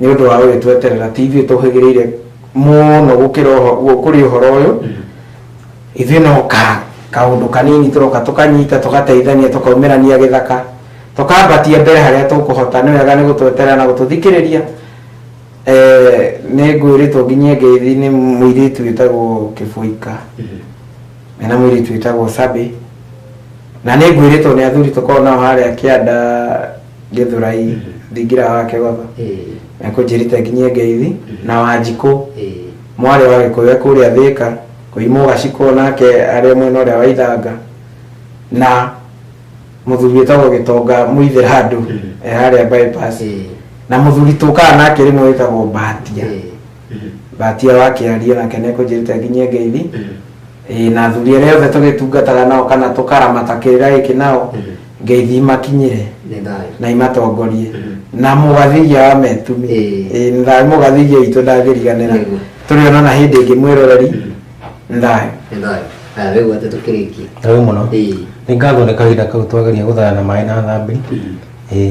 Speaker 3: nĩ ũndũ wa gũgĩtweterera ti ithuĩ tũhĩgĩrĩire mũno gũkĩra ũho- gũ- kũrĩ ũhoro ũyũ ithuĩ no ka kaũndũ kanini tũroka tũkanyita tũgateithania tũkaumĩrania gĩthaka tũkambatia mbere harĩa tũkũhota nĩ wega nĩ gũtweterera na gũtũthikĩrĩria Eh, nĩ ngwĩrĩtwo nginyie ngeithi nĩ mũirĩtu wĩtagwo kĩbũika mena mũirĩtu wĩtagwo sabi na nĩ ngwĩrĩtwo nĩ athuri tũkoragwo nao harĩa kĩanda gĩthurai thingira wa kĩgotho ĩĩ na kũnjĩrĩte nginyie ngeithi na wanjikũ ĩĩ mwarĩ wa gĩkũyũ kũrĩa thĩka kũimwo gacikũ nake arĩ mwena ũrĩa wa ithanga na mũthuri wĩtagwo gĩtonga mũithĩra andũ Mm. e harĩa bypass ĩĩ na mũthuri tũkaga nake rĩmwe wĩtagwo mbatia ĩĩ mbatia wa kĩarie nake nĩkũnjĩrĩte nginyie ngeithi Ĩĩ, na athuri arĩa othe tũgĩtungataga nao kana tũkaramata kĩrĩra gĩkĩ nao ngeithi imakinyĩre nĩ thayũ na imatongorie na mũgathithia wa metumi Ĩĩ. Ĩĩ, nĩ thayũ mũgathithia witũ ndangĩriganĩra Nĩguo. tũrĩonana hĩndĩ ĩngĩ mwĩroreri nĩ thayũ nĩ thayũ aya wĩgu atĩ tũkĩrĩkie
Speaker 1: Ndarĩ mũno.
Speaker 2: Ĩĩ. Nĩ ngatho nĩ kahinda kau twageria gũthaya na maĩ na thambĩ. Ĩĩ.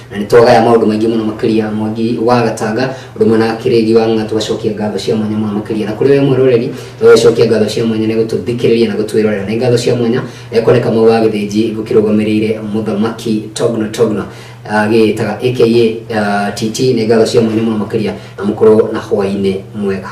Speaker 1: na nĩ twagaya maũndũ maingĩ mũno makĩria mwangi wa gatanga ũndũ ũmwe na kĩrĩgi wa ng'a tũgacokia ngatho cia mwanya mũno makĩria na kũrĩ we mwĩroreri tũgacokia ngatho cia mwanya nĩ gũtũthikĩrĩria na gũtwĩrorera nĩ ngatho cia mwanya eh, kone kamau wa gĩthĩnji gũkĩrũgamĩrĩire mũthamaki togno togno ah, gĩtaga aka ah, titi nĩ ngatho cia mwanya mũno makĩria na mũkorwo na hwainĩ mwega